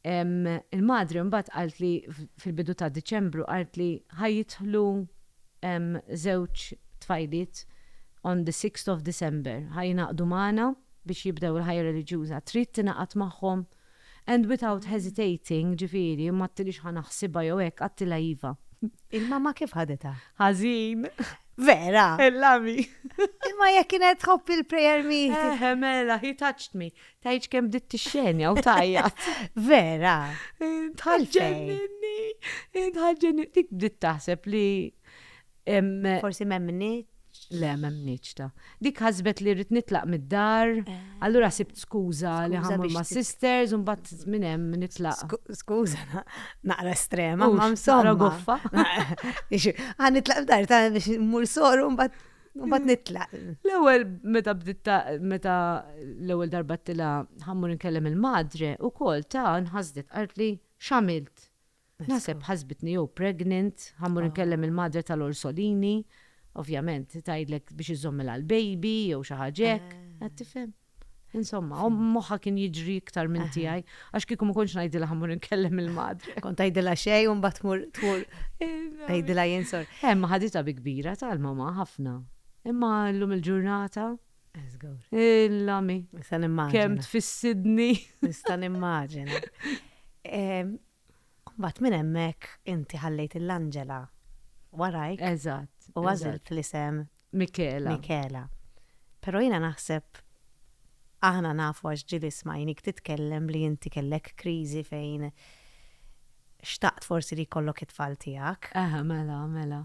Il-madre mbagħad qaltli fil-bidu ta' Diċembru qaltli ħa jidħlu żewġ tfajliet on the sixth of December, ħa jingħaqdu magħna biex jibdew il-ħajja reliġjuża. Trid tingħaqad magħhom? And without hesitating, ġifieri, m'għadtilix ħa naħsibha jew hekk, għadtilha iva. Il-mamma kif ħaditha? Ħażin. Vera? Illami. Imma jekk kienet tħobb il-prayer meeting. Eħe mela, he touched me. Tgħidx kemm bdiet tixxenja u tgħajjat. Vera. Tħallġenni. Tħallġenni. Dik bdiet taħseb li. Forsi m'hemmniex. Le, m'hemmniex ta. Dik ħasbet li rrid nitlaq mid-dar, eh. allura sibt skuża li ħammur ma' sisters u mbagħad minn hemm nitlaq. Skuża, naqra estrema, ma' msomma. Għan nitlaq f'dar ta' biex mmur soru mbagħad Mbagħad nitlaq. L-ewwel meta bdiet meta l-ewwel darba tila ħammur nkellem il-madre ukoll ta' nħasdet qalt li x'għamilt. Naħseb ħasbitni jew pregnant, ħammur nkellem il-madre tal-orsolini, ovvjament tgħidlek biex iżommilha l-baby jew xi ħaġa hekk, qed tifhem. Insomma, u moħħa kien jiġri iktar minn tiegħi, għax kieku ma kontx ngħidilha ħammur inkellem il-madre. Kont tgħidilha xejn u mbagħad tmur tmur tgħidilha jien sor. Hemm eh, ħaditha bi kbira tal-mama ħafna. Imma llum il-ġurnata Il-lami. Kemm tfissidni. Nista' nimmaġina. Mbagħad minn hemmhekk inti ħallejt lill-anġela warajk. Eżatt. U għażilt l-isem. Michela. Michela. Però jiena naħseb aħna nafu għax ġieli smajnik titkellem li inti kellek kriżi fejn xtaqt forsi li jkollok it-tfal tiegħek. Aha, mela, mela.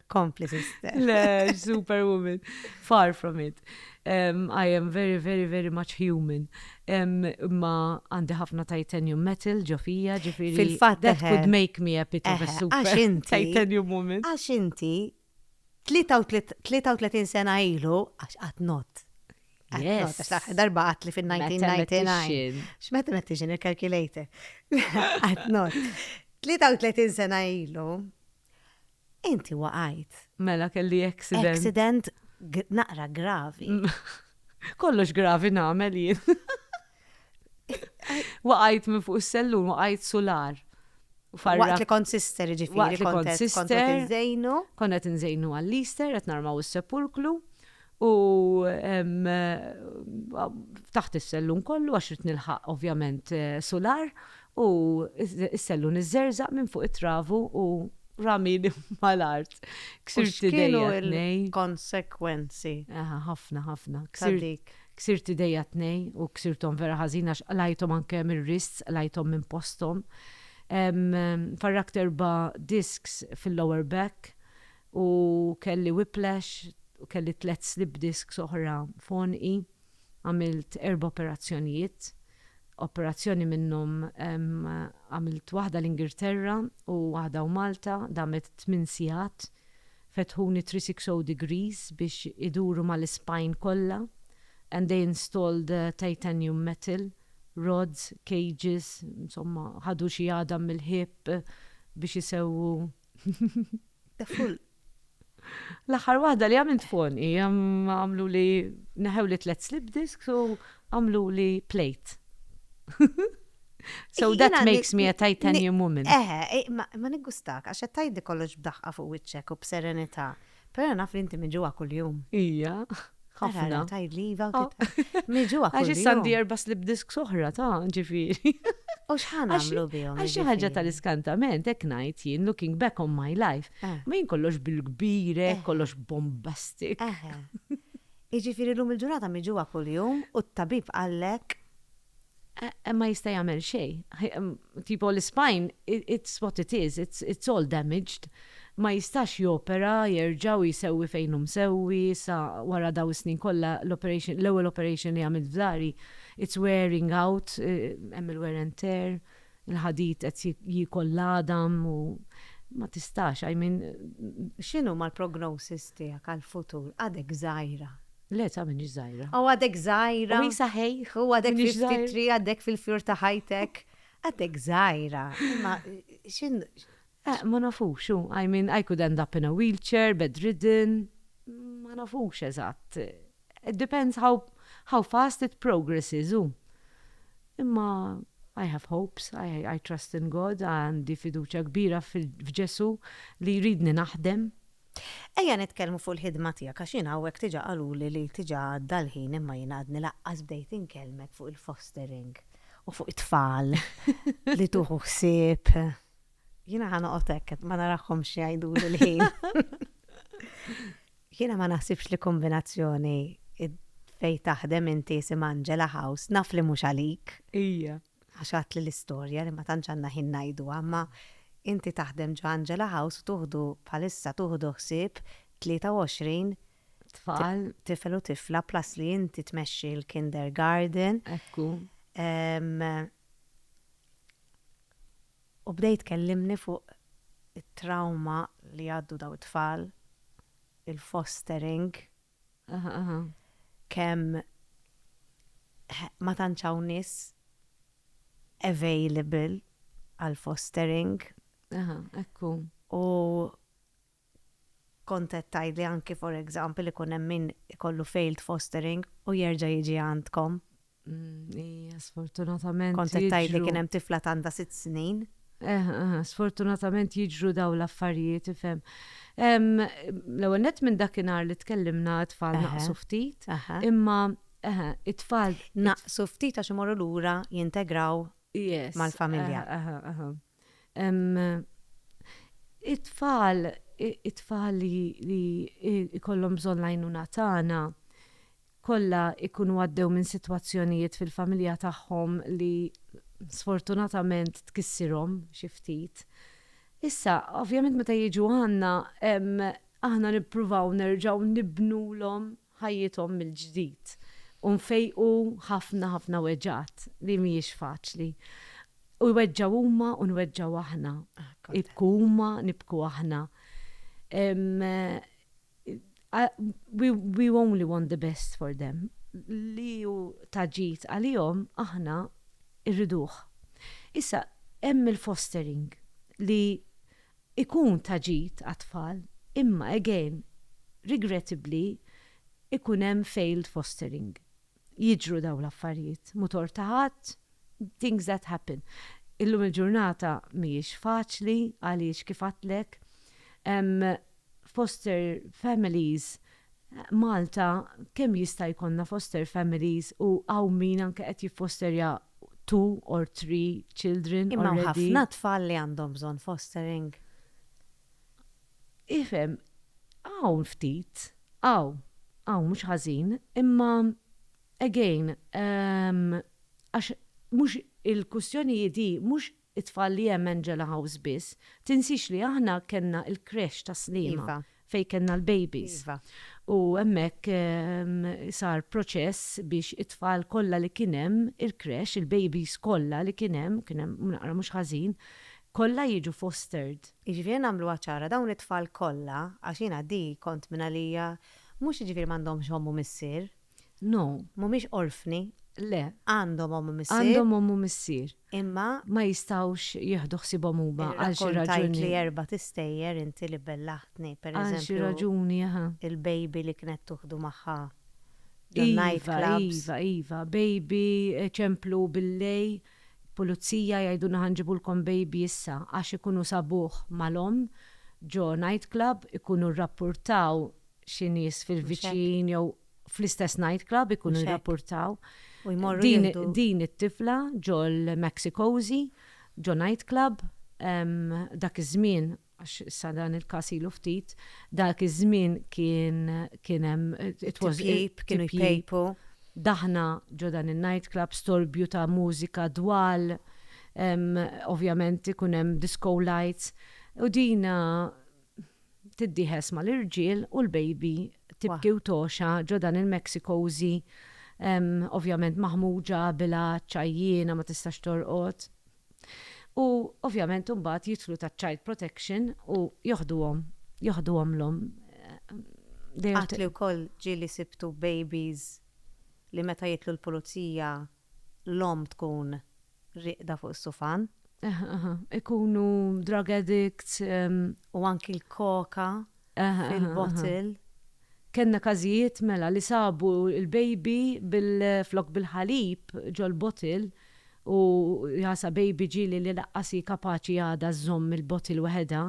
Kompli sister. Le, superwoman. Far from it. Um, I am very, very, very much human. Um, ma għandi ħafna titanium metal ġofija ġifiri. Fil-fat. That could make me a bit of a super titanium woman. Għax inti 33 sena ilu għax għat not. Yes. Darba għat li fil-1999. X'met met tiġin il-calculator. Għat not. 33 sena ilu Inti waqajt. Mela kelli accident. Accident naqra gravi. Kollox gravi nagħmel jien. Waqajt minn fuq is-sellun, waqajt sular. Waqt li kont sister ġifiri. Waqt li kont sister. Konnet nżejnu għall-Easter, qed narmaw is-sepulklu. U ftaħt is-sellun kollu għax ridt nilħaq ovvjament sular u s-sellun iżżerżaq minn fuq it-travu u ramieni mal-art. Ksirt idejja t-tnejn. Konsekwenzi. Aha, ħafna, ħafna. Ksirtik. Ksirt idejja t-tnejn u ksirthom vera ħażin għax qlajthom anke mir-wrists, qlajthom minn posthom. Farrakt erba' disks fil-lower back. u kelli whiplash u kelli tliet slip disks oħra f'għonqi. Għamilt erba' operazzjonijiet. Operazzjoni minnhom għamilt waħda l-Ingilterra u waħda u Malta, damet tmien sigħat. Fetħuni 360 degrees biex iduru mal-ispine kollha and they installed titanium metal rods, cages, insomma ħadu xi għadam mill-hip biex isewwu Full. L-aħħar waħda li għamilt fon hi għamlu li neħew li tlet slip disks u għamlu li plate. So that makes me a titanium woman. Eħe, eh, ma niggustak, għax tajdi kollox b'daħqa fuq wiċċek u b'serenità. Però naf li inti miġugħa kuljum. Ija, ħafna. Ara, ara, tgħidli iva u oh. titqal. Miġugħa kuljum. Għax issa għandi erba' slip disks oħra ta' ġifieri. U xħan għamlu bihom? Għax ħaġa tal-iskantament, ek najt jien, looking back on my life, eh. ma jien kollox bil-kbire, eh. kollox bombastik. Eh. Iġifiri l-lum il-ġurnata miġuwa kull-jum u t-tabib għallek ma jista' jagħmel xejn. Tipo l-ispine, it's what it is, it's all damaged. Ma jistax jopera, jerġa' u jsewwi fejn hu msewwi, issa wara dawn is-snin kollha l-operation, l-ewwel operation li għamilt f'dari, it's wearing out, hemm il-wear and tear, il-ħadid qed jiekol l-għadam u ma tistax, I mean. X'inhuma l-prognosis tiegħek għall-futur? Għadek żgħira. Le ta' m'iniex żgħira. Aw għadek żgħira. U hi saħejh. U għadek fi ftit triq għaddek fil-fjur ta' ħajtek. Għadek żgħira. Imma x'in. Eh, ma nafux, hu, I mean, I could end up in a wheelchair, bedridden, ma nafux eżatt. It depends how, how fast it progresses, hu. Imma I have hopes, I, I trust in God, għandi fiduċja kbira f'Ġesù li jridni naħdem Ejja nitkellmu fuq il-ħidma tiegħek għax jien hawnhekk diġà qaluli li diġà għadda l-ħin imma jien għadni laqqas bdejt inkellmek fuq il-fostering u fuq it-tfal li tuħu ħsieb. Jiena ħa noqgħod hekk ma narahomx jgħiduli l-ħin. Jiena ma naħsibx li kombinazzjoni fej taħdem inti sim Angela House naf li mhux għalik. Ija. għax għadtli l-istorja li ma tantx għandna ħin ngħiduha, imma inti taħdem ġo Angela House u tuħdu bħalissa tuħdu ħsieb 23 tfal, tifel u tifla plus li inti tmexxi l-kindergarden. Ekku. U bdejt kellimni fuq it-trauma li għaddu daw it-tfal, il-fostering, kemm ma tantx hawn nies available għal fostering. Aha, ekku. U kont qed tgħidli anki for example ikun hemm min ikollu failed fostering u jerġa' jiġi għandkom. Mm, ija, sfortunatament. Kont qed tgħid li kien hemm tifla tanda sitt snin. Eh, eh, sfortunatament jiġru daw l-affarijiet, ifhem. L-ewwel net minn dakinhar li tkellimna tfal naqsu ftit, imma it-tfal naqsu ftit għax imorru lura jintegraw mal-familja. It-tfal, it-tfal li li jkollhom bżonn l-għajnuna tagħna kollha jkunu għaddew minn sitwazzjonijiet fil-familja tagħhom li sfortunatament tkissirhom xi ftit. Issa, ovvjament meta jiġu għandna, aħna nippruvaw nerġgħu nibnulhom ħajjithom mill-ġdid u nfejqu ħafna ħafna weġgħat li mhijiex faċli. U jweġġgħu huma u nweġġgħu aħna. Jibku huma, nibku aħna. We only want the best for them. Li hu ta' ġid għalihom aħna rriduh. Issa, hemm il-fostering li ikun ta' ġid għat-tfal imma again regrettably ikun hemm failed fostering. Jiġru dawn l-affarijiet, mhu tort ta' ħadd, things that happen. Illum il-ġurnata mhijiex faċli għaliex kif għedtlek hemm foster families Malta kemm jista' jkollna foster families u hawn min anke qed jiffosterja two or three children already. Imma hawn ħafna tfal li għandhom bżonn fostering. Ifhem, hawn ftit, hawn, hawn mhux ħażin, imma again għax mhux il-kwistjoni hi di, mhux it-tfal li hemm Angela House biss, tinsiex li aħna kellna il-creche ta' Sliema fejn kellna l-babies u hemmhekk sar proċess biex it-tfal kollha li kien hemm il-creche, il-babies kollha li kien hemm, kien hemm naqra mhux ħażin, kollha jiġu fostered. Jiġifieri ejja nagħmluha ċara, dawn it-tfal kollha, għax jiena di kont mingħalija, mhux jiġifieri m'għandhomx omm u missier, No. Mhumiex orfni. Le. Għandhom omm u missier. Għandhom omm u missier. Imma. Ma jistgħux jieħdu ħsiebhom huma għal xi raġuni. Irrakkontajtli erbat istejjer inti li bellaħtni, per eżempju. Għal xi raġuni, aha. Il-baby li kienet tuħdu magħha the night clubs. Iva, iva, iva. Baby ċemplu billej, pulizija jgħidulna ħa nġibulkom baby issa għax ikunu sabuh mal-omm ġo night club, ikunu rrappurtaw xi nies fil-viċin jew fl-istess night club ikunu jirrapportaw din it-tifla ġol-Mexikosi, ġo night club, dak iż-żmien, għax issa dan il-każ ilu ftit, dak iż-żmien kien hemm tipjip, kienu jpejpu, daħna ġo dan in-night club, storbju ta' mużika dwal, ovvjament ikun hemm disco lights, u din tiddiehes mal-irġiel u l-baby tibki u togħxa ġo dan il-Mexikosi ovvjament maħmuġa, bilgħaġġ, għajjiena ma tistax torqod. U ovvjament imbagħad jidħlu taċ-child protection u joħduhom, joħduhomlhom. Għadt li wkoll ġieli sibtu babies li meta jidħlu l-pulizija l-omm tkun rieqda fuq is-sufan. Ikunu drug addicts. U anki l-koka fil-bottle. Kellna każijiet mela li sabu l-baby flok bil-ħalib ġol-bottle u jasa baby ġieli li laqqas hi kapaċi għadha żżomm il-bottle weħedha.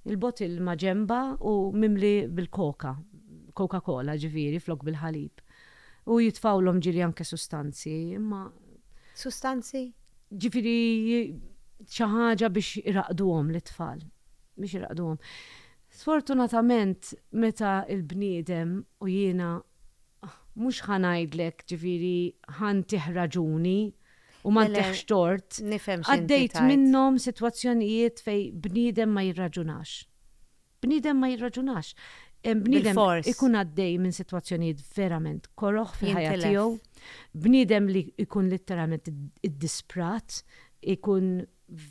Il-bottle ma' ġenbha u mimli bil-koka, Coca-Cola ġifieri flok bil-ħalib. u jitfgħulhom ġieli anke sustanzi, imma. Sustanzi? Ġifieri xi ħaġa biex iraqqduhom lit-tfal, biex iraqqduhom. Sfortunatament meta l-bniedem, u jiena mhux ħa ngħidlek ġifieri ħa ntih raġuni u ma ntihx tort, għaddejt minnhom sitwazzjonijiet fejn bniedem ma jirraġunax. Bniedem ma jirraġunax. Bniedem ikun għaddej minn sitwazzjonijiet verament koroh fil-ħajja tiegħu. Bniedem li jkun litteralment iddisprat, ikun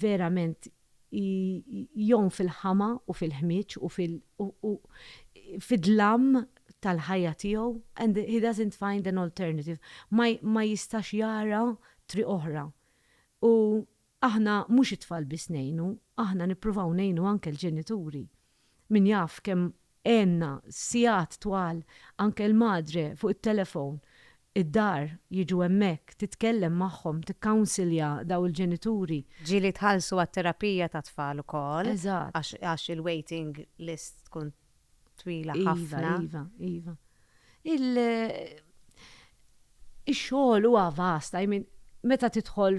verament jgħum fil-ħama u fil-ħmieġ u fid-dlam tal-ħajja tiegħu and he doesn't find an alternative. Ma jistax jara triq oħra. U Aħna mhux it-tfal biss ngħinu, aħna nippruvaw ngħinu anke l-ġenituri. Min jaf kemm għenna sigħat twal anke l-madre fuq it-telefown id-dar, jiġu hemmhekk, titkellem magħhom, tikkawnsilja daw il-ġenituri. Ġieli tħallsu għat-terapija tat-tfal ukoll. Eżatt. Għax il-waiting list tkun twila iva, ħafna. Iva, iva, Il xogħol huwa vasta, I mean, meta tidħol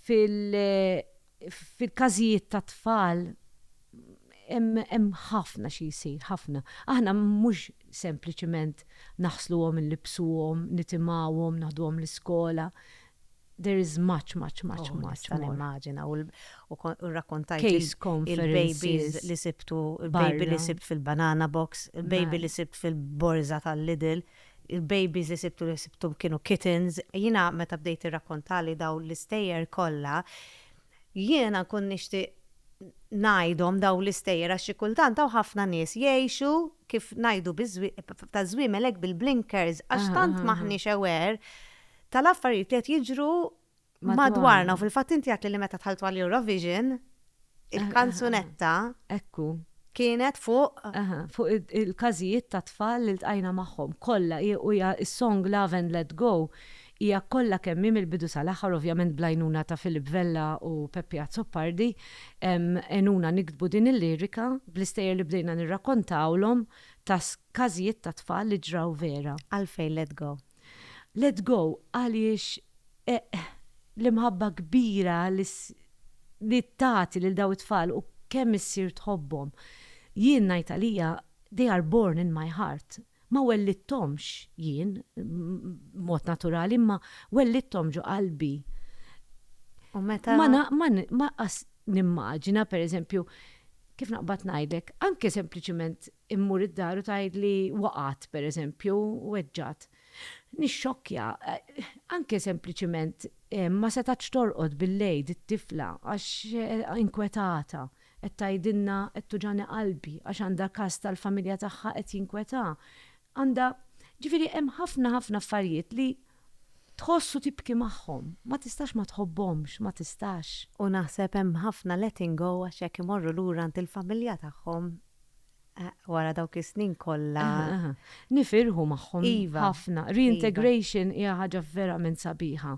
fil-każijiet ta' tfal hemm ħafna xi jsir, ħafna. Aħna mhux sempliċement naħsluhom, nlibsuhom, nitimgħuhom, naħduhom l-iskola, There is much, much, much, much. Nista' nimmaġina u rrakkontajt il-babies li sibtu, il-baby li sibt fil-banana box, il-baby li sibt fil-borża tal-Lidl, il-babies li sibtu li sibthom kienu kittens. Jiena meta bdejt tirrakkontali dawn l-istejjer kollha, Jiena nkun nixtieq ngħidhom dawn l-istejjer għax xi kultant hawn ħafna nies jgħixu kif ngħidu taż-żwiemel hekk bil-blinkers għax tant m'aħniex aware tal-affarijiet li qed jiġru madwarna u fil-fatt inti għedtli li meta dħaltu għall-Eurovision il-kanzunetta kienet fuq fuq il-każijiet tat-tfal li ltqajna magħhom kollha u hija s-song Love and Let Go Hija kollha kemm hi mill-bidu sal-aħħar, ovvjament bl-għajnuna ta' Philip Vella u Peppi Azzopardi, għenuna niktbu din il-lirika bl-istejjer li bdejna nirrakontawlhom ta' każijiet ta' tfal li ġraw vera. Għalfejn Let Go? Let Go għaliex l-imħabba kbira li tagħti lil dawn it-tfal u kemm issir tħobbhom. Jien ngħid għalija, they are born in my heart. Ma wellidthomx jien b'mod naturali imma wellidthom ġo qalbi. U meta. Ma na, ma ni, ma qas nimmaġina pereżempju, kif naqbad ngħidlek, anke sempliċement immur id-dar u tgħidli waqgħet pereżempju, weġġgħet. Nixxokkja, anke sempliċement ma setgħetx torqod bil-lejl it-tifla għax inkwetata. Qed tgħidilna qed tuġani qalbi għax għandha każ tal-familja tagħha qed jinkwetha. Għandha, ġifieri hemm ħafna ħafna affarijiet li tħoss u tibki magħhom. Ma tistax ma tħobbhomx, ma tistax. U naħseb hemm ħafna letting go għax jekk imorru lura għand il-familja tagħhom wara dawk is-snin kollha. Nifirħu magħhom ħafna. Reintegration hija ħaġa verament sabiħa.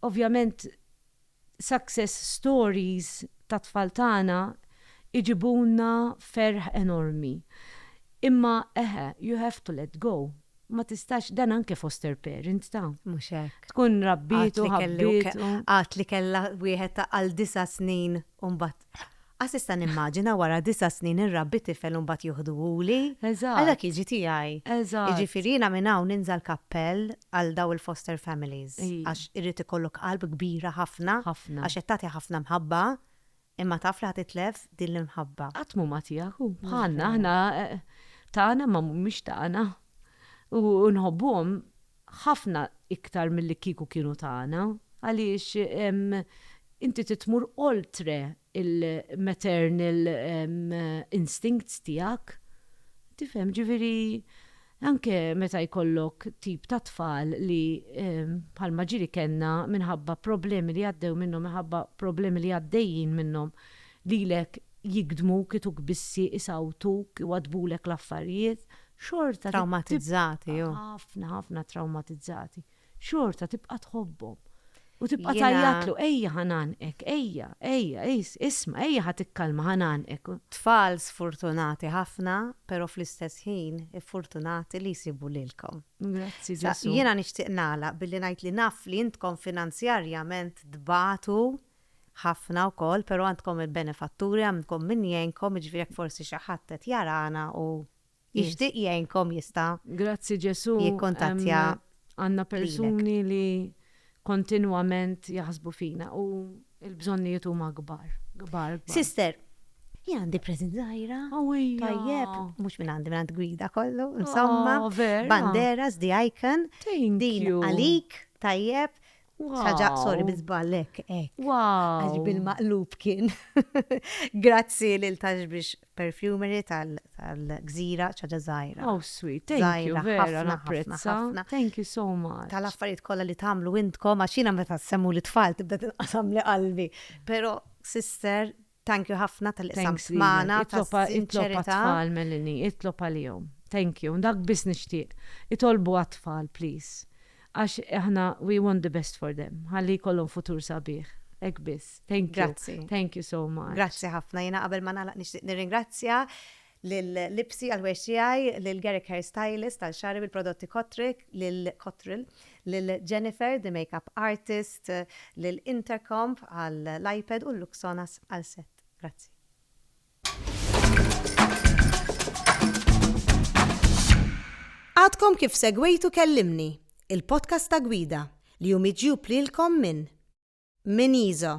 Ovvjament Success stories tat-tfal tagħna iġibulna ferħ enormi. Imma eħe, you have to let go. Ma tistax, dan anke foster parent ta. Mhux hekk. Tkun rabbietu, ħabbietu. Għad li kellha wieħed ta' għal disa' snin u mbagħad. Għax nista' nimmaġina wara disa' snin inrabbi tifel u mbagħad joħduhuli. Eżatt. Għal dak jiġi tiegħi. Eżatt. Jiġifieri jiena minn hawn ninża' l-kappell għal dawn il-foster families. Ii. Għax irid ikollok qalb kbira ħafna. Ħafna. Għax qed tagħti ħafna mħabba, imma taf li ħa titlef din l-imħabba. Qatt m'hu ma tiegħek, hu bħalna, aħna tagħna imma mhumiex tagħna. U nħobbuhom. ħafna iktar milli kieku kienu tagħna, għaliex inti trid tmur oltre l-maternal instincts tiegħek. Tifhem? Ġifieri anke meta jkollok tip ta' tfal li bħalma ġieli kellna minħabba problemi li għaddew minnhom, minħabba problemi li għaddejjin minnhom, lilek jigdmuk, ituk bissi, isawtuk, iwaddbulek l-affarijiet, xorta tibqa'. Trawmatizzati, hu. Ħafna, ħafna trawmatizzati. Xorta tibqa' tħobbhom. U tibqa' Jiena. tgħajjatlu, ejja ħa ngħannqek, ejja, ejja, isma', ejja ħa tikkalma, ħa ngħannqek. Tfal sfurtunati ħafna, però fl-istess ħin iffurtunati li jsibu lilkom. Grazzi Ġesù. Jiena nixtieq nagħlaq billi ngħid li naf li intkom finanzjarjament tbatu Ħafna wkoll, pero' għandkom il-benefatturi, għandkom min jgħinkom, jiġifieri jekk forsi xi ħadd qed jarana u jixtieq jgħinkom jista'. Grazzi Ġesu', għandna persuni li kontinwament jaħsbu fina u l-bżonnijiet huma kbar, kbar, kbar. Sister, jien għandi present żgħira. Awwii. Tajjeb, mhux minn għandi, minn għand Gwida kollu, insomma. Aww, vera? Banderas, the icon. Thank you. Din għalik, tajjeb, Saġa, sorry, bizbal, ek, ek. Wow. Għax bil-maqlub kien. Grazzi lil tax biex perfumery tal-gżira ċaġa zaħira. Oh, sweet, thank you, vera, napprezza. Thank you so much. Tal-affarijiet kolla li tamlu intkom, għaxina meta semmu li tfal tibda tinqasam li qalbi. Pero, sister, Thank you ħafna talli qsamt magħna tas-sinċerità. Itlob għat-tfal Melanie, itlob għalihom. Thank you. Dak biss nixtieq. Itolbu għat-tfal please. Għax aħna we want the best for them. Ħalli jkollhom futur sabiħ. Hekk biss. Thank you. Grazzi. Thank you so much. Grazzi ħafna. Jiena qabel ma nagħlaq nixtieq nirringrazzja lil libsi għal ħwejġ tiegħi, lil Garrick Hair Stylist għal xagħri bil-prodotti Kotrick, lil Kotril, lil Jennifer the Makeup Artist, lil Intercomp għall-iPad u Luxonas għal set. Grazzi. Għadkom kif segwejtu Kellimni, il-podcast ta' Gwida, li hu miġjub lilkom minn Miniso.